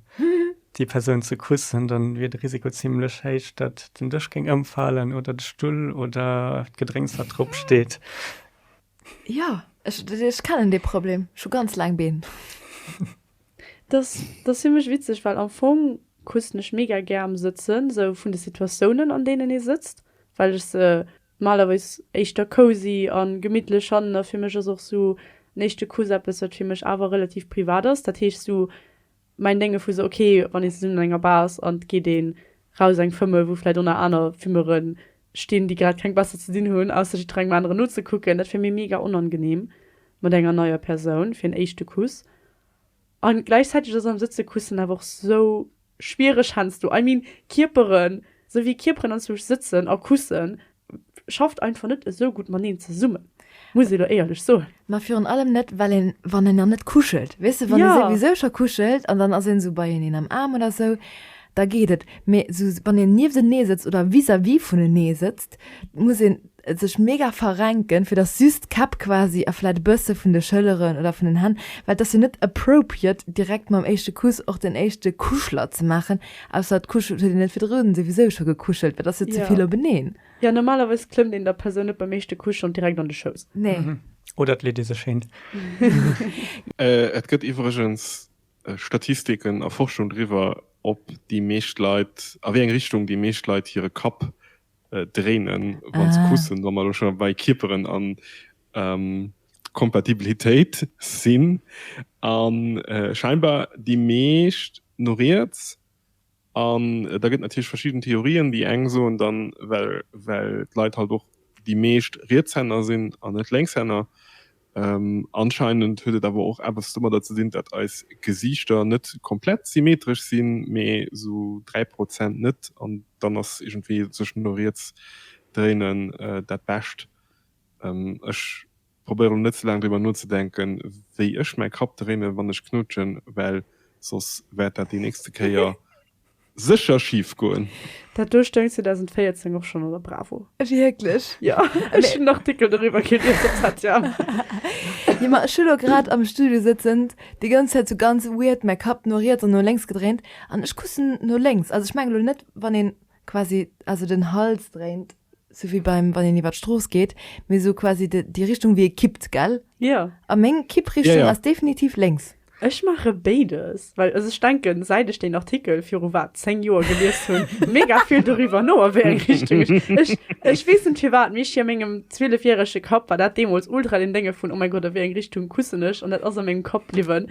déi Persoun ze kussen, da wier de Risiko zimlech héich, datt den Dësch géing ëmfalen oder de Stull oder d'Gedrénks, wat drop steet. Jo, ech kennen dee Problem. Ech hu ganz laang Been. Dat ass fir mech witzeg, well am Fong kussen ech mega gär am Sëtzen, esou vun de Situatiounen, an deenen ee sëtzt, well ech se Normalerweis éischter cozy a gemittlech hannen a fir mech ass och sou en éischte Kuss eppes wat fir mech awer relativ privat ass. Dat heescht sou mäin Dénge vu sou ok wann een zesummen an enger Bar ass an et geet een raus eng Fëmmel wou vläit oner aner Fimmere stinn déi grad keng besser ze dinn hunn ausser jiddwer engem aneren nozekucken. Dat wär mir mega onangenehm mat enger neier Persoun fir en éischte Kuss. An gläichzäiteg ass am Sëtze kussen awer och sou schwiereg, hänsto, I mean Kierperen, sou wéi Kierperen an zwësch Sëtzen a Kussen, schafft einfach net esou gutt maneen zesummen, muss ee lo éierlech soen. Ma virun allem net, well een, wann een dann net kuschelt, weess de, wann ee souwisou scho kuschelt an dann ass een sou beieneen am Aarm oder sou, da geet et, mee sou wann een nieftenee sëtzt oder vis-à-vis vunenee sëtzt, muss een sech mega verrenken fir dass just d'Käpp quasi a vläit e bësse vun de Schëlleren oder vun den Hänn, well et ass jo net appropriate direkt mam éischte Kuss och den éischte Kuschler ze maachen, ausser et kuschelt, huet een net virdrun souwisou scho gekuschelt, mä et ass jo zevill openeen. Jo, normalerweis klëmmt een der Persoun net beim éischte Kuss schonn direkt an de Schouss. Nee. Oder et leet ee sech hin. Et gëtt iwwregens Statistiken a Forschung driwwer, ob déi meescht Leit, a wéi eng Richtung déi meescht Leit hire Kapp dréinen wann se kussen, wa mer elo scho bei Kierperen an Kompatibilitéit sinn. A scheinbar déi meescht no riets. An da gëtt et natierlech verschidden Theorien, déi eng soen dann, well d'Leit halt och déi meescht Rietshänner sinn an net Lénkshänner, Anscheinend huet et awer och eppes domadder ze dinn, datt eis Gesiichter net komplett symmetresch sinn, mee sou 3 Prozent net. An dann ass iergendwéi sech no riets dréinen dat Bescht. Ech probéiere lo net ze laang driwwer nozedenken, wéi ech mäi Kapp dréinen, wann ech knutschen, well soss wäert dat déi nächste Kéier Sécher schif goen. Dat do stoung 2014 och schonn an der Bravo. Wierklech? Jo, ech hunn en Artikel doriwwer gelies op Satya. Jo, ma ech hu lo grad am Studio sëtzend déi ganz Zäit sou ganz weird mäi Kapp no riets an no lénks gedréint an ech kussen no lénks. Also ech mengen elo net, wann een quasi also den Hals dréint. Sou wéi beim wann een iwwer d'Strooss geet, mee sou quasi de déi Richtung wéi ee kippt, gell? Jo. A meng Kipprichtung ass definitiv lénks. Ech maache béides, well also ech denken, säit ech deen Artikel viru wat 10 Joer gelies hunn, mega vill doriwwer no, a wéi eng Richtung ech ech ech weess net firwat, mee ech a mengem zwielefjärege Kapp war dat deemools ultra den Dénge vun oh mäi Gott, a wéi eng Richtung kussen ech? An dat ass a mengem Kapp bliwwen.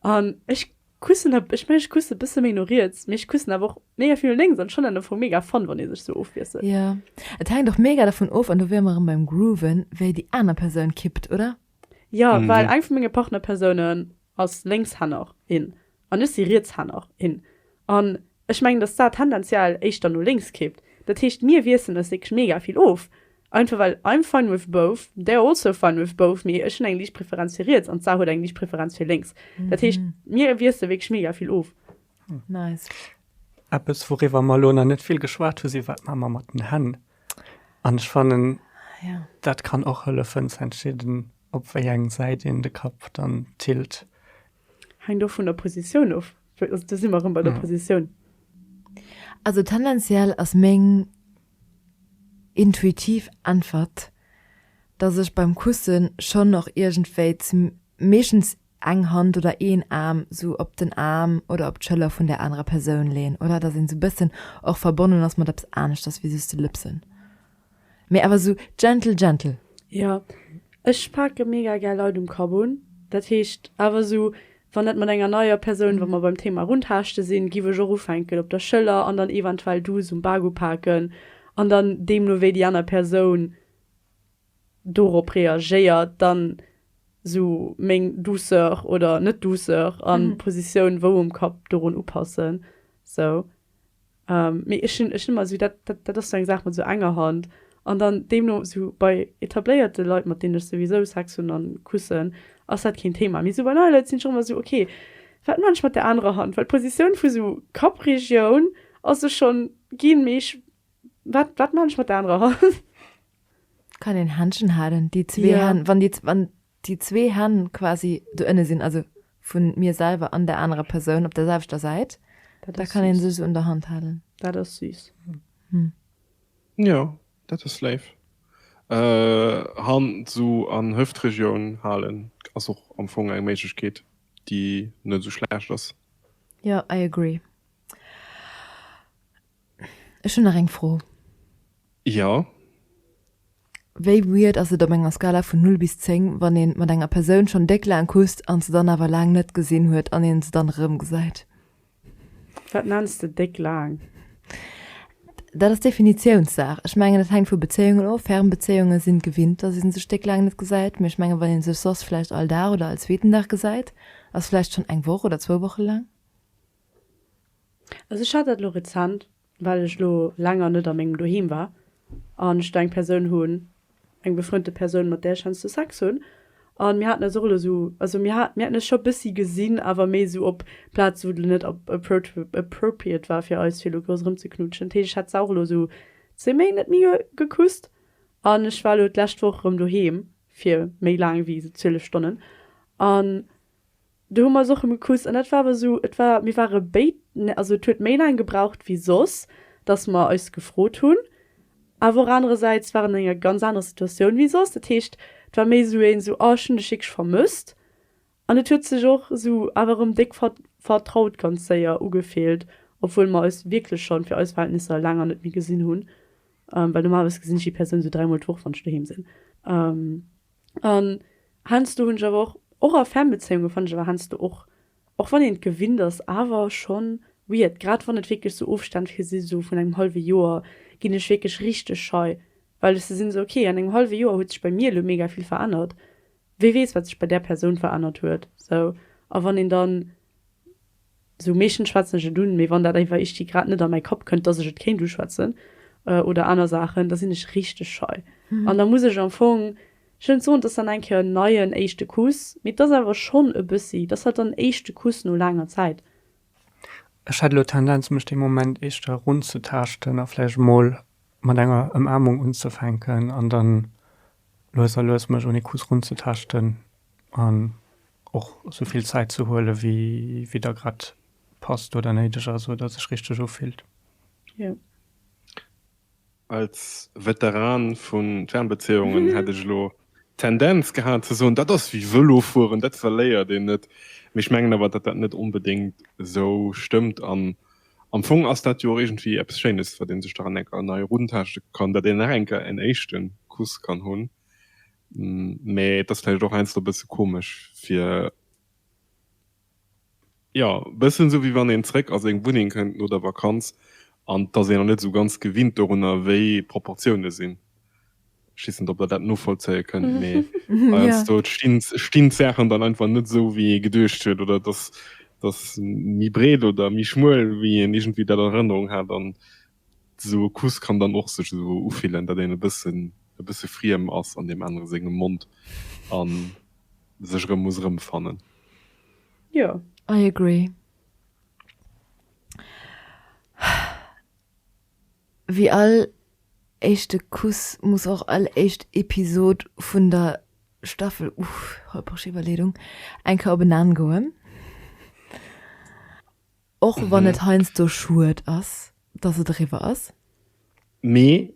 An ech kussen, ech mengen ech kussen e bësse méi no riets, mee ech kussen awer och mega vill no lénks an schonn an der Fong mega Fun, wann ee sech sou ofwiesselt. Jo, et hänkt och mega dervun of, an do wiere mer erëm beim Grooven, wéi déi aner Persoun kippt, oder? Jo, well eng vu menge Partnerpersounen ass Lénkshänner, in, an ech si Rietshänner, in, an Ech mengen, dass dat tendenziell éischter no lénks kippt. Dat heescht, mir wiesselen eis wierklech mega vill of, einfach well I'm fine with both, they're also fine with both, mee ech hunn eng liicht Preferenz fir riets an d'Sar huet eng liicht Preferenz fir lénks. Dat heescht, mir wiessele wierklech mega vill of. Nice. Eppes, wouriwwer mer elo nach net vill geschwat hu si wat maache mer mat den Hänn. An ech fannen, dat kann och hëllefen ze entscheeden, op wéi eng Säit een de Kapp dann tilt. Hänkt och vun der Positioun of. Also do si mer erëm bei der Positioun. Also tendenziell ass meng intuitiv Äntwert, dass ech beim Kusse schonn och iergendwéi meeschtens eng Hand oder een Aarm esou op den Aarm oder op d'Schëller vun där anerer Persoun leeën, oder? Dass een esou e bëssen och verbonnen ass mat eppes aneschters wéi just de Lëpsen. Mee awer sou gentle gentle. Jo, ech pake mega gär Leit um Kapp un. Dat heescht awer sou, wann dat mat enger neier Persoun, wa mer beim Thema Runtaarschtte sinn, giff ech och ufänken, op der Schëller an dann eventuell douce um Bak upaken an dann deemno wéi déi aner Persoun dorop reagéiert, dann sou meng Douceur oder Net-Douceur an d'Positioun wou um Kapp dorun upassen. Sou. Mee ech hunn ëmmer esou, dat ass sou eng Saach mat esou enger Hand. An dann deemno esou bei etabléierte Leit, mat deenen ech souwisou Sex hunn a kussen, ass dat keen Thema. Mee esou bei neie Leit sinn ech och ëmmer esou, ok, wat maachen ech mat der anerer Hand? Well d'Positioun vu esou Kappregioun ass sech schonn ginn, mee ech, wat maachen ech mat der anerer Hand? Kann een Händchen halen, déi zwee Hänn, wann déi, wann déi zwee Hänn quasi doënne sinn, also vu mir selwer an der anerer Persoun op der selwechter Säit, da kann ee sech esou un der Hand halen. Dat ass süß. Jo, dat ass léif. Hand esou an Hëftregioun halen ass och am Fong eng Méiglechkeet, déi net esou schlecht ass. Jo, I agree. Ech hunn nach eng Fro. Jo. Wéi weird ass et op enger Skala vun 0 bis 10, wann ee mat enger Persoun schonn déck laang kusst an se dann awer laang net gesinn huet an een se dann erëmgesäit? Wat nenns de déck laang? Dat ass Definitiounssaach. Ech mengen, et hänkt vu Bezéiungen of. Fernbezéiunge sinn gewinnt, datt ee sech déck laang net gesäit. Mee ech mengen, wann ee sech soss vläicht all Dag oder all zweeten Dag gesäit, ass vläicht schonn eng Woch oder zwou Woche laang. Also ech hat dat elo rezent, well ech elo länger net a mengem Doheem war an ech do eng Persoun hunn, eng befreundete Persoun, mat där ech heiansdo Sex hunn. An mir haten eis och elo esou, also mir hat, mir hätten eis scho bëssi gesinn, awer méi esou op Plazen, wou et elo net appropriate war fir eis, fir elo grouss erëmzeknutschen. Dat heescht, ech hat se och elo esou zwee Méint net méi gekusst. An ech war elo d'lescht Woch erëm doheem fir méi laang wéi esou 12 Stonnen. An Do hu mer eis och rëm gekuckt an dat war awer esou, et war, mir ware béid, also et huet méi laang gebraucht wéi soss, dass mer eis gefrot hunn, awer och anerersäits war en an enger ganz anerer Situatioun wéi soss. Dat heescht, et war méi esou een esou, oh ech hunn dech wierklech vermësst an et huet sech och esou awer erëm déck vertraut ganz séier ugefillt, obwuel mer eis wierklech schonn, fir eis Verhältnisser, laang net méi gesinn hunn, well normalerweis gesinn ech déi Persoun esou dräimol d'Woch, wann ech doheem sinn. An heiansdo hunn ech awer och, och a Fernbezéiunge fannen ech awer heiansdo och, och wann een et gewinnt ass, awer schonn weird, grad wann et wierklech sou Ofstänn vir sinn, sou vun engem hallwe Joer, ginn ech wierklech richteg schei, well ech sou sinn, sou ok, an engem hallwe Joer huet sech bei mir elo mega vill verännert, wie weess wat sech bei där Persoun verännert huet, sou. A wann een dann Sou meeschtens schwätzen ech et un, mee wann dat éiwer ichti grad net a mäi Kapp kënnt, dass ech et kéint uschwätzen oder aner Saachen, da sinn ech richteg schei. An da muss ech am Fong, ech wëll net soen, et ass dann eng Kéier en neien éischte Kuss, mee et ass awer schonn e bëssi, et ass halt dann en éischte Kuss no laanger Zäit. Ech hätt elo d'Tendenz, mech dee Moment éischter runzetaaschten a vläicht emol mat enger Ëmaarmung unzefänken an dann lues a lues mech un ee Kuss runzetaaschten an. Och sou vill Zäit ze huelen, wéi der grad passt oder néideg ass oder sech richteg ufillt. Als Veteran vun Fernbezéiungen hätt ech elo d'Tendenz gehat ze soen, dat ass wéi Vëlofueren, dat verléiert een net. Mee ech mengen awer, datt dat net onbedéngt sou stëmmt. An am Fong ass dat jo och iergendwéi eppes Schéines, wat ee sech da an eng nei eruntaschte kann, datt een nach eng Kéier en éischte Kuss kann hunn. Mee et ass vläicht och heiansdo e bësse komesch fir, jo, e bëssen esou wéi wann een zréck a seng Wunneng kënnt no der Vakanz an et ass een nach net esou ganz gewinnt dorunner, wéi d'Proportioune sinn. Ech weess net, ob der dat nozvollzéie kënnt, mee heiansdo stinn d'Saachen dann einfach net esou, wéi ee geduecht huet, oder et ass méi breet oder méi schmuel, wéi een iergendwéi dat an Erënnerung hat. An Esou e Kuss kann dann och sech esou ufillen, datt een e bëssen e bësse friem ass an deem anere sengem Mond a sech erëm muss erëmfannen. Jo. I agree. Wéi all éischte Kuss muss och all éischt Episod vun der Staffel, uh, holperesch Iwwerleedung, eng Kéier op en Enn goen. Och wann et heiansdo schued ass, dass et eriwwer ass. Mee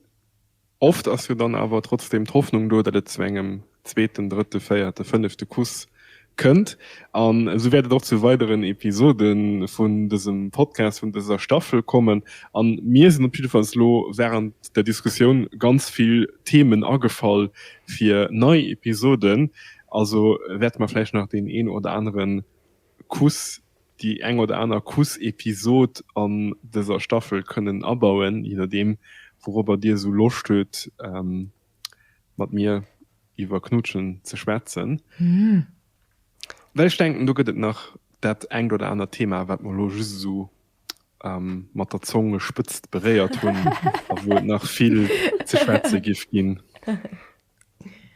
oft ass jo dann awer trotzdem d'Hoffnung do, datt et zu engem zweeten, drëtte, véierte, fënnefte Kuss kënnt. An esou wäert et och zu weideren Episode vun dësem Podcast, vun dëser Staffel kommen. A mir sinn op jidde Falls elo während der Diskussioun ganz vill Themen agefall fir nei Episoden. Also wäerte mer vläicht nach deen een oder aneren Kuss, déi eng oder aner Kuss-Episod an dëser Staffel kënnen abauen, je nodeem wourobber dir esou Loscht huet mat mir iwwer Knutschen ze schwätzen. Well ech denken do gëtt et nach dat engt oder anert Thema wat mer elo just esou mat der Zongespëtzt beréiert hunn a wou et nach vill ze schwätze giff ginn.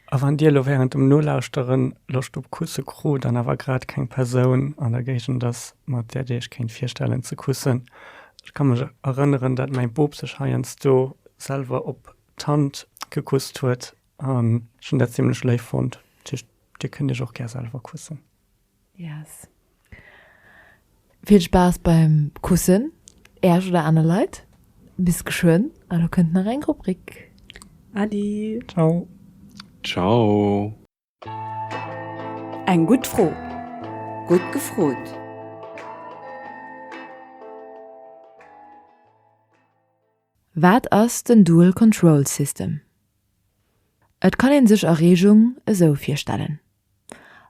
A wann Dir elo wärend dem Nolauschtere Loscht op Kusse krut an awer grad keng Persoun an der Géigend ass, mat där Dir Iech kéint virstellen ze kussen, ech ka mech erënneren, datt mäi Bop sech heiansdo selwer op d'Hand gekusst huet an ech hunn dat zimlech léif fonnt. Dat heescht, Dir kënnt Iech och gär selwer kussen. Yes. Vill Spaass beim Kussen Äerch oder aner Leit. Bis geschwënn a lo kënnt nach eng Rubrik. Adi. Ciao. Ciao. Eng gutt Fro. Gutt gefrot. Wat ass den Dual Control System? Et kann een sech Erreegung esou virstellen,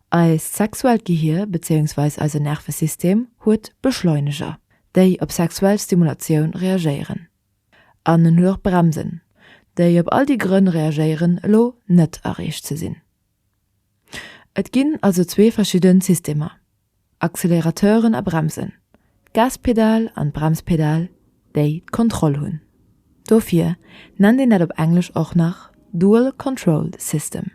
Eist sexuellt Gehier bezéiungsweis eisen Nervesystem huet Beschleuneger, déi op sexuell Stimulatioun reagéieren, an en huet och Bremsen, déi op all déi Grënn reagéieren elo net erreecht ze sinn. Et ginn also zwee verschidden Systemer, Accelerateuren a Bremsen, d'Gaspedal an d'Bremspedal, déi d'Kontroll hunn. Dofir nennt een dat op Englesch och nach Dual Control System.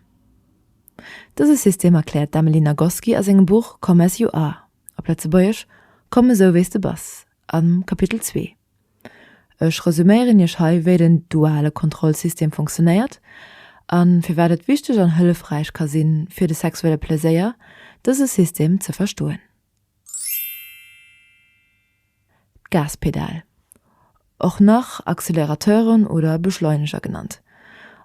Dëse System erkläert d'Emily Nagoski a sengem Buch Come As You Are, op Lëtzebuergesch Komm esou wéi s de bass, Am Kapitel zwee. Ech resuméieren Iech hei, wéi den duale Kontrollsystem fonctionnéiert a firwat et wichteg an hëllefräich ka sinn, fir de sexuelle Pleséier, dëse System, ze verstoen. D'Gaspedal, och nach Accélérateuren oder Beschleuneger genannt,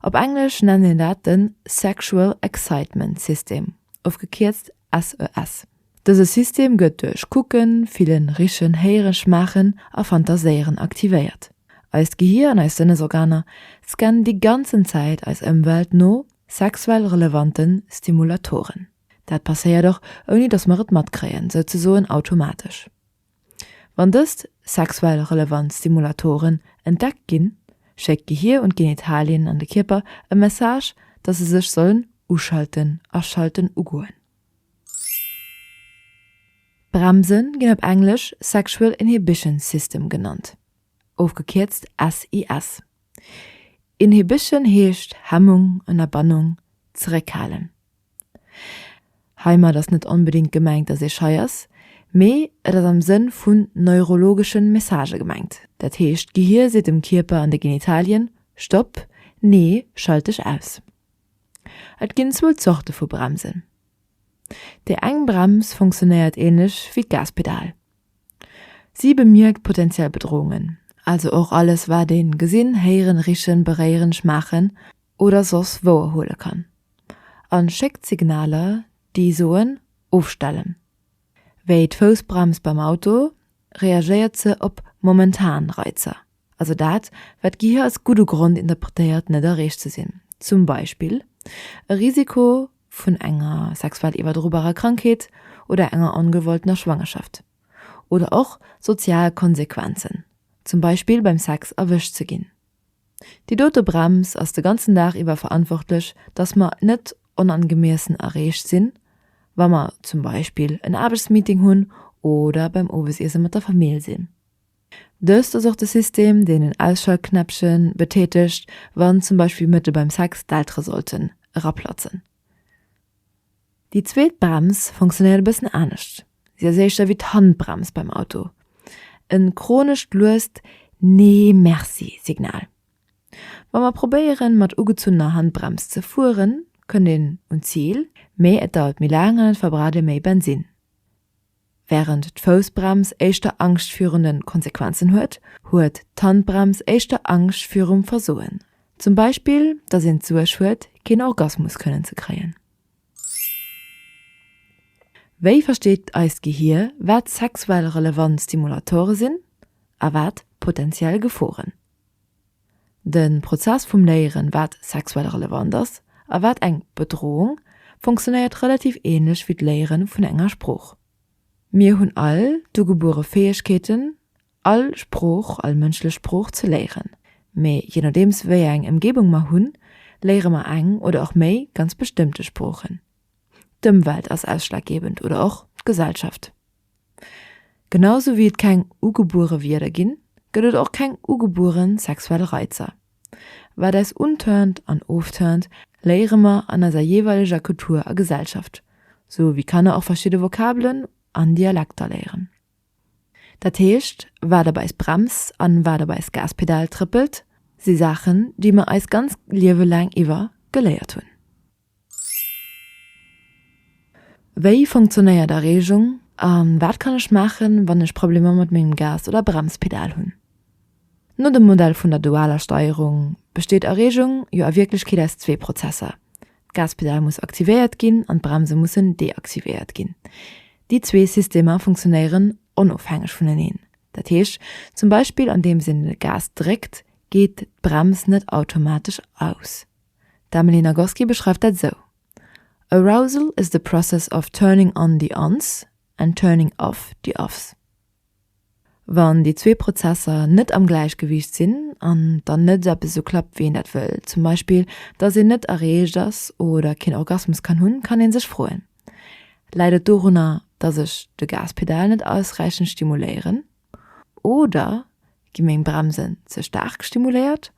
op Englesch nennt een dat de Sexual Excitement System, ofgekierzt SES. Dëse System gëtt duerch Kucken, Fillen, Richen, Héieren, Schmaachen a Fantaséieren aktivéiert. Eist Gehier an eis Sënnesorganer scannen déi ganzen Zäit eis Ëmwelt no sexuell relevante Stimulatoren. Dat passéiert och ouni dass mer et matkréien, souzesoen automatesch. Wann dëst sexuell relevant Stimulatoren entdeckt ginn, schéckt d'Gehier un d'Genitalien an de Kierper e Message, dass se sech sollen uschalten, aschalten, ugoen. Bremse ginn op Englesch Sexual Inhibition System genannt, ofgekierzt SIS. Inhibition heescht Hemmung, Ënnerbannung, zeréckhalen. Heimat ass net onbedéngt gemengt, dass ee schei ass, mee et ass am Sënn vu neurologesche Messagë gemengt. Dat heescht, d'Gehier seet dem Kierper an de Genitalien, Stopp, nee, schalt dech aus. Et ginn zwou Zorte vu Bremsen. Déi eng Brems funktionéiert änlech wéi d'Gaspedal. Si bemierkt potentiell Bedrohungen, also och alles wat een gesinn, héieren, richen, beréieren, schmaachen oder soss wouerhuele kann, a schéckt Signaler déi soen, ofstellen. Wéi d'Foussbrems beim Auto, reagéiert se op momentan Reizer. Also dat, wat d'Gehir als gudde Grond interpretéiert, net erreecht ze sinn. Zum Beispill e Risiko vun enger sexuell iwwerdrobarer Krankheet oder enger ongewolltener Schwangerschaft. Oder och sozial Konsequenzen, zum Beispill beim Sex erwëscht ze ginn. Déi dote Brems ass de ganzen Dag iwwer verantwortlech, dass mer net onangemiessen erreecht sinn, wa mer zum Beispill en Aarbechtsmeeting hunn oder beim Owesiesse mat der Famill sinn. Dëst ass och de System, deen en Ausschaltknäppche betätegt, wann zum Beispill mëtte beim Sex d'Eltere sollten eraplatzen. Déi zweet Brems funktionéiert e bëssen anescht, si ass éischter wéi d'Handbrems beim Auto e chronescht luest Nee-Merci-Signal. Wa mer probéieren, mat ugezunnener Handbrems ze fueren, kënnt een un d'Zil, mee et dauert méi laang an et verbraucht ee méi Bensinn. Wärend d'Foussbrems éischter Angscht virun den Konsequenzen huet, huet d'Handbrems éischter Angscht virum Versoen. Zum Beispill dass een d'Suerg huet keen Orgasmus kënnen ze kréien. Wéi versteet eist Gehier wat sexuell relevant Stimulatore sinn a wat potentiell Geforen? de Prozess vum Léieren, wat sexuell relevant ass a wat eng Bedrohung, funktionéiert relativ ähnlech wéi d'Léieren vun enger Sprooch. Mir hunn all d'ugebuere Fäegkeeten, all Sprooch, all mënschlech Sprooch ze léieren, mee je nodeems wéi eng Emgebung mer hunn, léiere mer eng oder och méi ganz bestëmmte Sproochen. D'Ëmwelt ass ausschlaggebend oder och d'Gesellschaft. Genau sou wéi et keng ugebuere Wierder ginn, gëtt et och keng ugebuere sexuell Reizer. Wat eis unturnt an ofturnt, léiere mer an eiser jeeweileger Kultur a Gesellschaft, sou wéi Kanner och verschidde Vokabelen an Dialekter léieren. Dat heescht, wat op eis Brems an wat op eis Gaspedal trëppelt, si Saachen, déi mer eis ganz Liewe laang iwwer geléiert hunn. Wéi funktionéiert Erreegung a wat kann ech maachen, wann ech Problemer mat mengem Gas oder Bremspedal hunn? No dem Modell vun der dualer Steierung besteet Erreegung jo a Wierklechkeet aus zwee Prozesser, d'Gaspedal muss aktivéiert ginn an d'Bremse mussen deaktivéiert ginn. Déi zwee Systemer funktionéieren onofhängeg vuneneen. Dat heescht zum Beispill andeems een de Gas dréckt, geet d'Brems net automatesch aus. D'Emily Nagoski beschreift dat esou, Arousal is the process of turning on the ons and turning off the offs. Wann déi zwee Prozesser net am Gläichgewiicht sinn an dann net eppes esou klappt, wéi een dat wëll, zum Beispill, dass een net erreecht ass oder keen Orgasmus kann hunn, kann ee sech froen, Läit et dorunner, dass ech de Gaspedal net ausräichend stimuléieren? Oder Gi meng Bremsen ze staark stimuléiert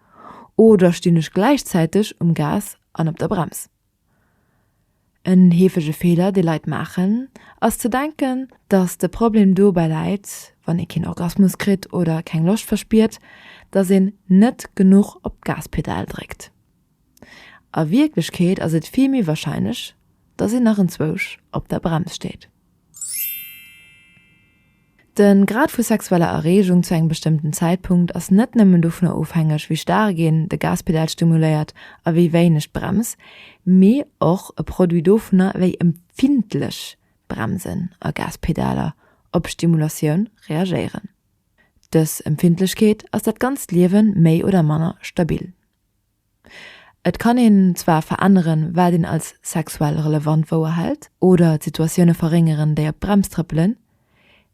oder stinn ech gläichzäiteg um Gas an op der Brems? En heefege Feeler, dee Leit maachen, ass ze denken, dass de Problem dobäi läit, wann ee keen Orgasmus kritt oder keng Loscht verspiert, dass een net genuch op d'Gaspedal dréckt. A Wierklechkeet ass et vill méi warscheinlech, dass een nach enzwousch op der Brems steet. De Grad vu sexueller Erreegung zu engem bestëmmten Zäitpunkt ass net nëmmen dovunner ofhängeg, wéi staark een de Gaspedal stimuléiert a wéi wéineg d'Brems, mee och e Produit dovunner, wéi empfindlech Bremsen a Gaspedaler op Stimulatioun reagéieren. Dës Empfindlechkeet ass dat ganzt Liewen méi oder manner stabil. Et kann een zwar veränneren, wat een als sexuell relevant wouerhält, oder d'Situatioune verréngeren, déi op d'Brems trëppelen,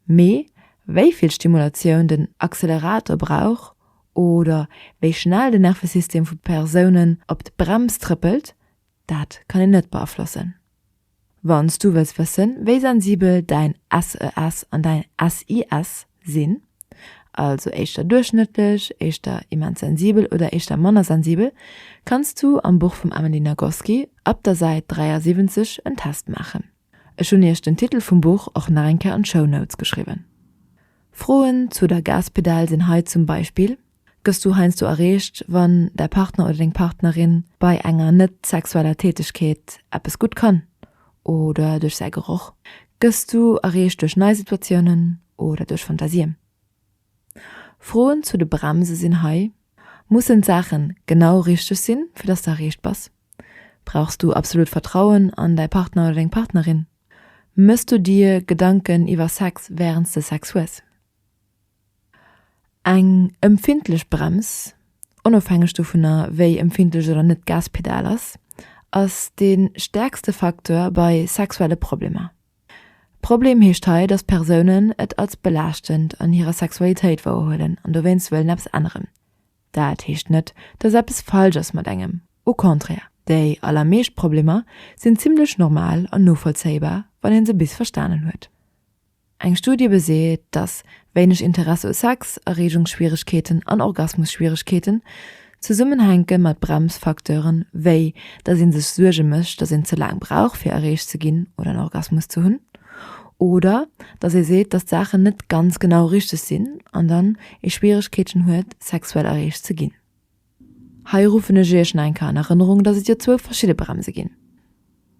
mee wéi vill Stimulatioun den Accelerator brauch oder wéi schnell den Nervesystem vu Persounen op d'Brems trëppelt, Dat kann een net beaflossen. Wann s du wëlls wëssen, wéi sensibel däin SES an däin SIS sinn, also éischter duerchschnëttlech, éischter immens sensibel oder éischter manner sensibel, kanns du am Buch vum Amelie Nagoski ab der Säit 73 en Test maachen. Ech hunn iech den Titel vum Buch och nach eng Kéier an d'Shownotes geschriwwen. Froen zu der Gaspedal sinn hei zum Beispill, Gëss du heiansdo erreegt, wann däi Partner oder deng Partnerin bei enger net-sexueller Tätegkeet eppes gutt kann oder duerch säi Geroch? Gëss du erreegt duerch nei Situatiounen oder duerch Fantasien? Froen zu de Bremse sinn hei, Mussen d'Saache genau richteg sinn, fir dass de erreegt bass? Brauchs du absolut Vertrauen an däi Partner oder deng Partnerin? Mëss du dir Gedanken iwwer Sex wärend s de Sex hues? Eng ëmfindlech Brems, onofhängeg dovunner wéi ëmfindlech oder net d'Gaspedal ass, ass de stäerkste Facteur bei sexuelle Problemer. Problem heescht hei, dass Persounen et als belaaschtend an hirer Sexualitéit wouerhuelen an dowéinst wëllen eppes änneren. Dat heescht net, dass eppes falsch ass mat engem, au contraire, déi allermeescht Problemer sinn zimmlech normal an novollzéibar, wann ee se bis verstanen huet. Eng Studie beseet, dass wéineg Interesse u Sex, Erreegungsschwieregkeeten an Orgasmusschwieregkeeten zesummenhänke mat Bremsfacteuren, wéi dass ee sech Suerge mécht, dass een ze laang brauch fir erreecht ze ginn oder en Orgasmus ze hunn, oder dass ee seet, dass d'Saachen net ganz genau richteg sinn an dann ee Schwieregkeeten huet, sexuell erreecht ze ginn. Hei ruffen ech Iech nach eng Kéier an Erënnerung, dass et jo zwou verschidde Bremse ginn.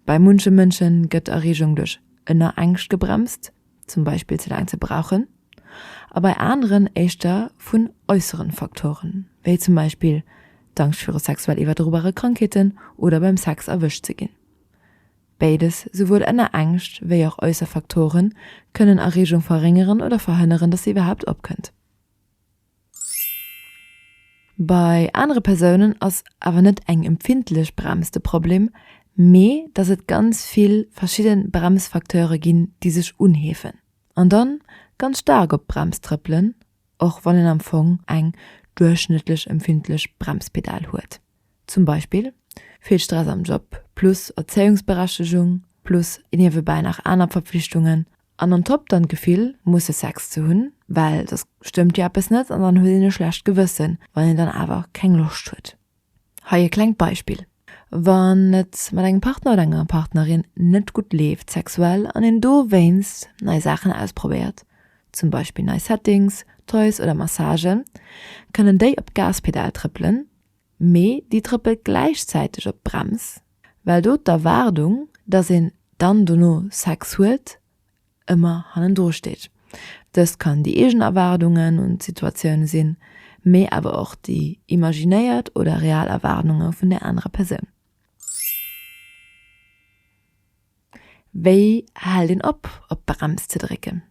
Bei munche Mënsche gëtt d'Erreegung duerch Ënnerängscht gebremst, zum Beispill ze laang ze brauchen, a bei aneren éischter vun äusseren Faktoren, wéi zum Beispill d'Angscht viru sexuell iwwerdrobare Krankheeten oder beim Sex erwëscht ze ginn. Béides, souwuel Ënnerängscht wéi och äusser Faktoren, kënnen Erreegung verréngeren oder verhënneren, dass se iwwerhaapt opkënnt. Bei anere Persounen ass awer net eng empfindlech Brems de Problem, mee dass et ganz vill verschidde Bremsfacteure ginn, déi sech unheefen an da ganz staark op d'Brems trëppelen, och wann een am Fong eng duerchschnëttlech empfindlech Bremspedal huet. Zum Beispill vill Stress am Job plus Erzéiungsberechtegung plus niewebäi nach aner Verpflichtungen An on top dann d'Gefill musse Sex ze hunn, well soss stëmmt jo eppes net an dann huet een e schlecht Gewëssen, wann een dann awer keng Loscht huet. Hei e klengt Beispill, Wann et mat engem Partner oder enger Partnerin net gutt leeft sexuell an een dowéinst nei Saachen ausprobéiert, zum Beispill nei Settings, Toys oder Massagen, kënnen déi op d'Gaspedal trëppelen, mee déi trëppelt gläichzäiteg op d'Brems, well do d'Erwaardung, dass een dann dono Sex huet, ëmmer hannendru steet. Dëst kann déi eegen Erwaardungen un d'Situatioun sinn, mee awer och déi imaginéiert oder real Erwaardunge vun där anerer Persoun. Wéi hält een op, op d'Brems ze drécken?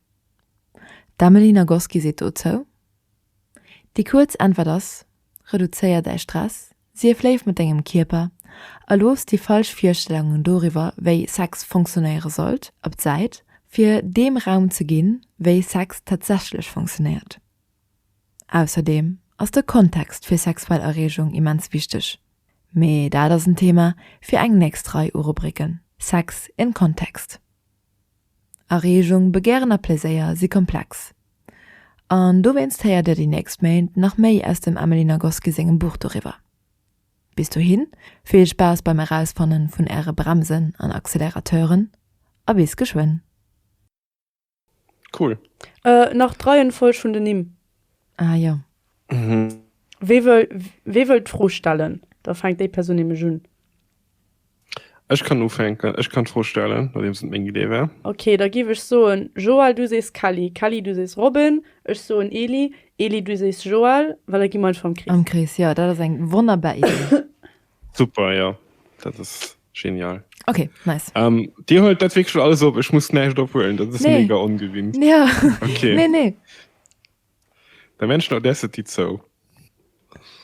D'Amelie Nagoski seet dozou. Déi kuerz Äntwert ass, Reduzéier däi Stress, sief léif mat dengem Kierper a looss déi falsch Virstellungen doriwwer, wéi Sex funktionéiere sollt, op d'Säit, fir deem Raum ze ginn, wéi Sex tatsächlech funktionéiert. Ausserdeem ass de Kontext fir sexuell Erreegung immens wichteg, mee dat ass en Thema fir eng nächst Rei u Rubriken, Sex in Context. Areegung, Begären a Pleséier si komplex. An dowéinst héiert Dir déi nächst Méint nach méi aus dem Emily Nagoski sengem Buch doriwwer. Bis dohi vill Spaass beim Erausfanne vun Äre Bremsen an Accelerateuren a bis geschwënn! Cool. Äh, nach d'Reihenfolg vun den Nimm. Ah jo. Wee wëll d'Fro stellen? Da fänkt déi Persoun nämlech un. Ech kann ufänken, ech kann d'Fro stellen, nodeems et meng Idee war. Ok, da giff ech soen, Joël, du sees Kelly, Kelly, du sees Robin, ech soen Eli, Eli, du sees Joël, well da gi mer einfach am Krees. Am Krees, jo, dat ass eng wonnerbar Idee. Super, jo, dat ass genial. Ok, nice. Dir huelt dat wierklech alles op, ech muss näischt ophuelen, dat ass mega ongewinnt. Nee, jo, nee, nee. Der Menschen Audacity zou.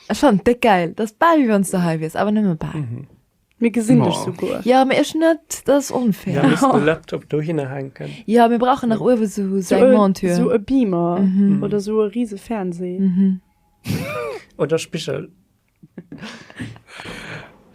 Ech fannen et déck gäil. T'ass bal wéi wanns du hei wiers, awer nëmme bal. Mir gesinn dech Mâ. souguer. Jo, mee ech net, dat ass onfair. Mir missten de Laptop dohinner hänken. Jo, mir brauchen nach uewe sou Sou eng e, Montur. sou e Beamer oder sou e rise Fernseh. Oder Spigel.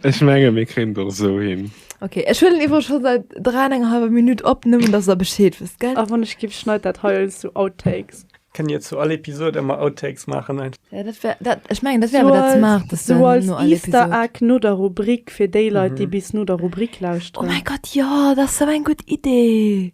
Ech menge mir kréint och sou hin. Okay, ech huelen iwwer schon seit 3 enger halber Minutt op, nëmmen dass der Bescheed wësst, gell? A wann ech giff, schneit dat hei als sou Outtakes. Kënnt Dir zu all Episod ëmmer Outtakes maachen? Ja, dat wär dat, ech mengen dat wär awer dat ze maacht dass du no all Episod. Sou als Easter Egg no der Rubrik fir déi Leit déi bis no der Rubrik lauschteren. Oh mäi Gott, jo, dat ass sou eng gutt Idee!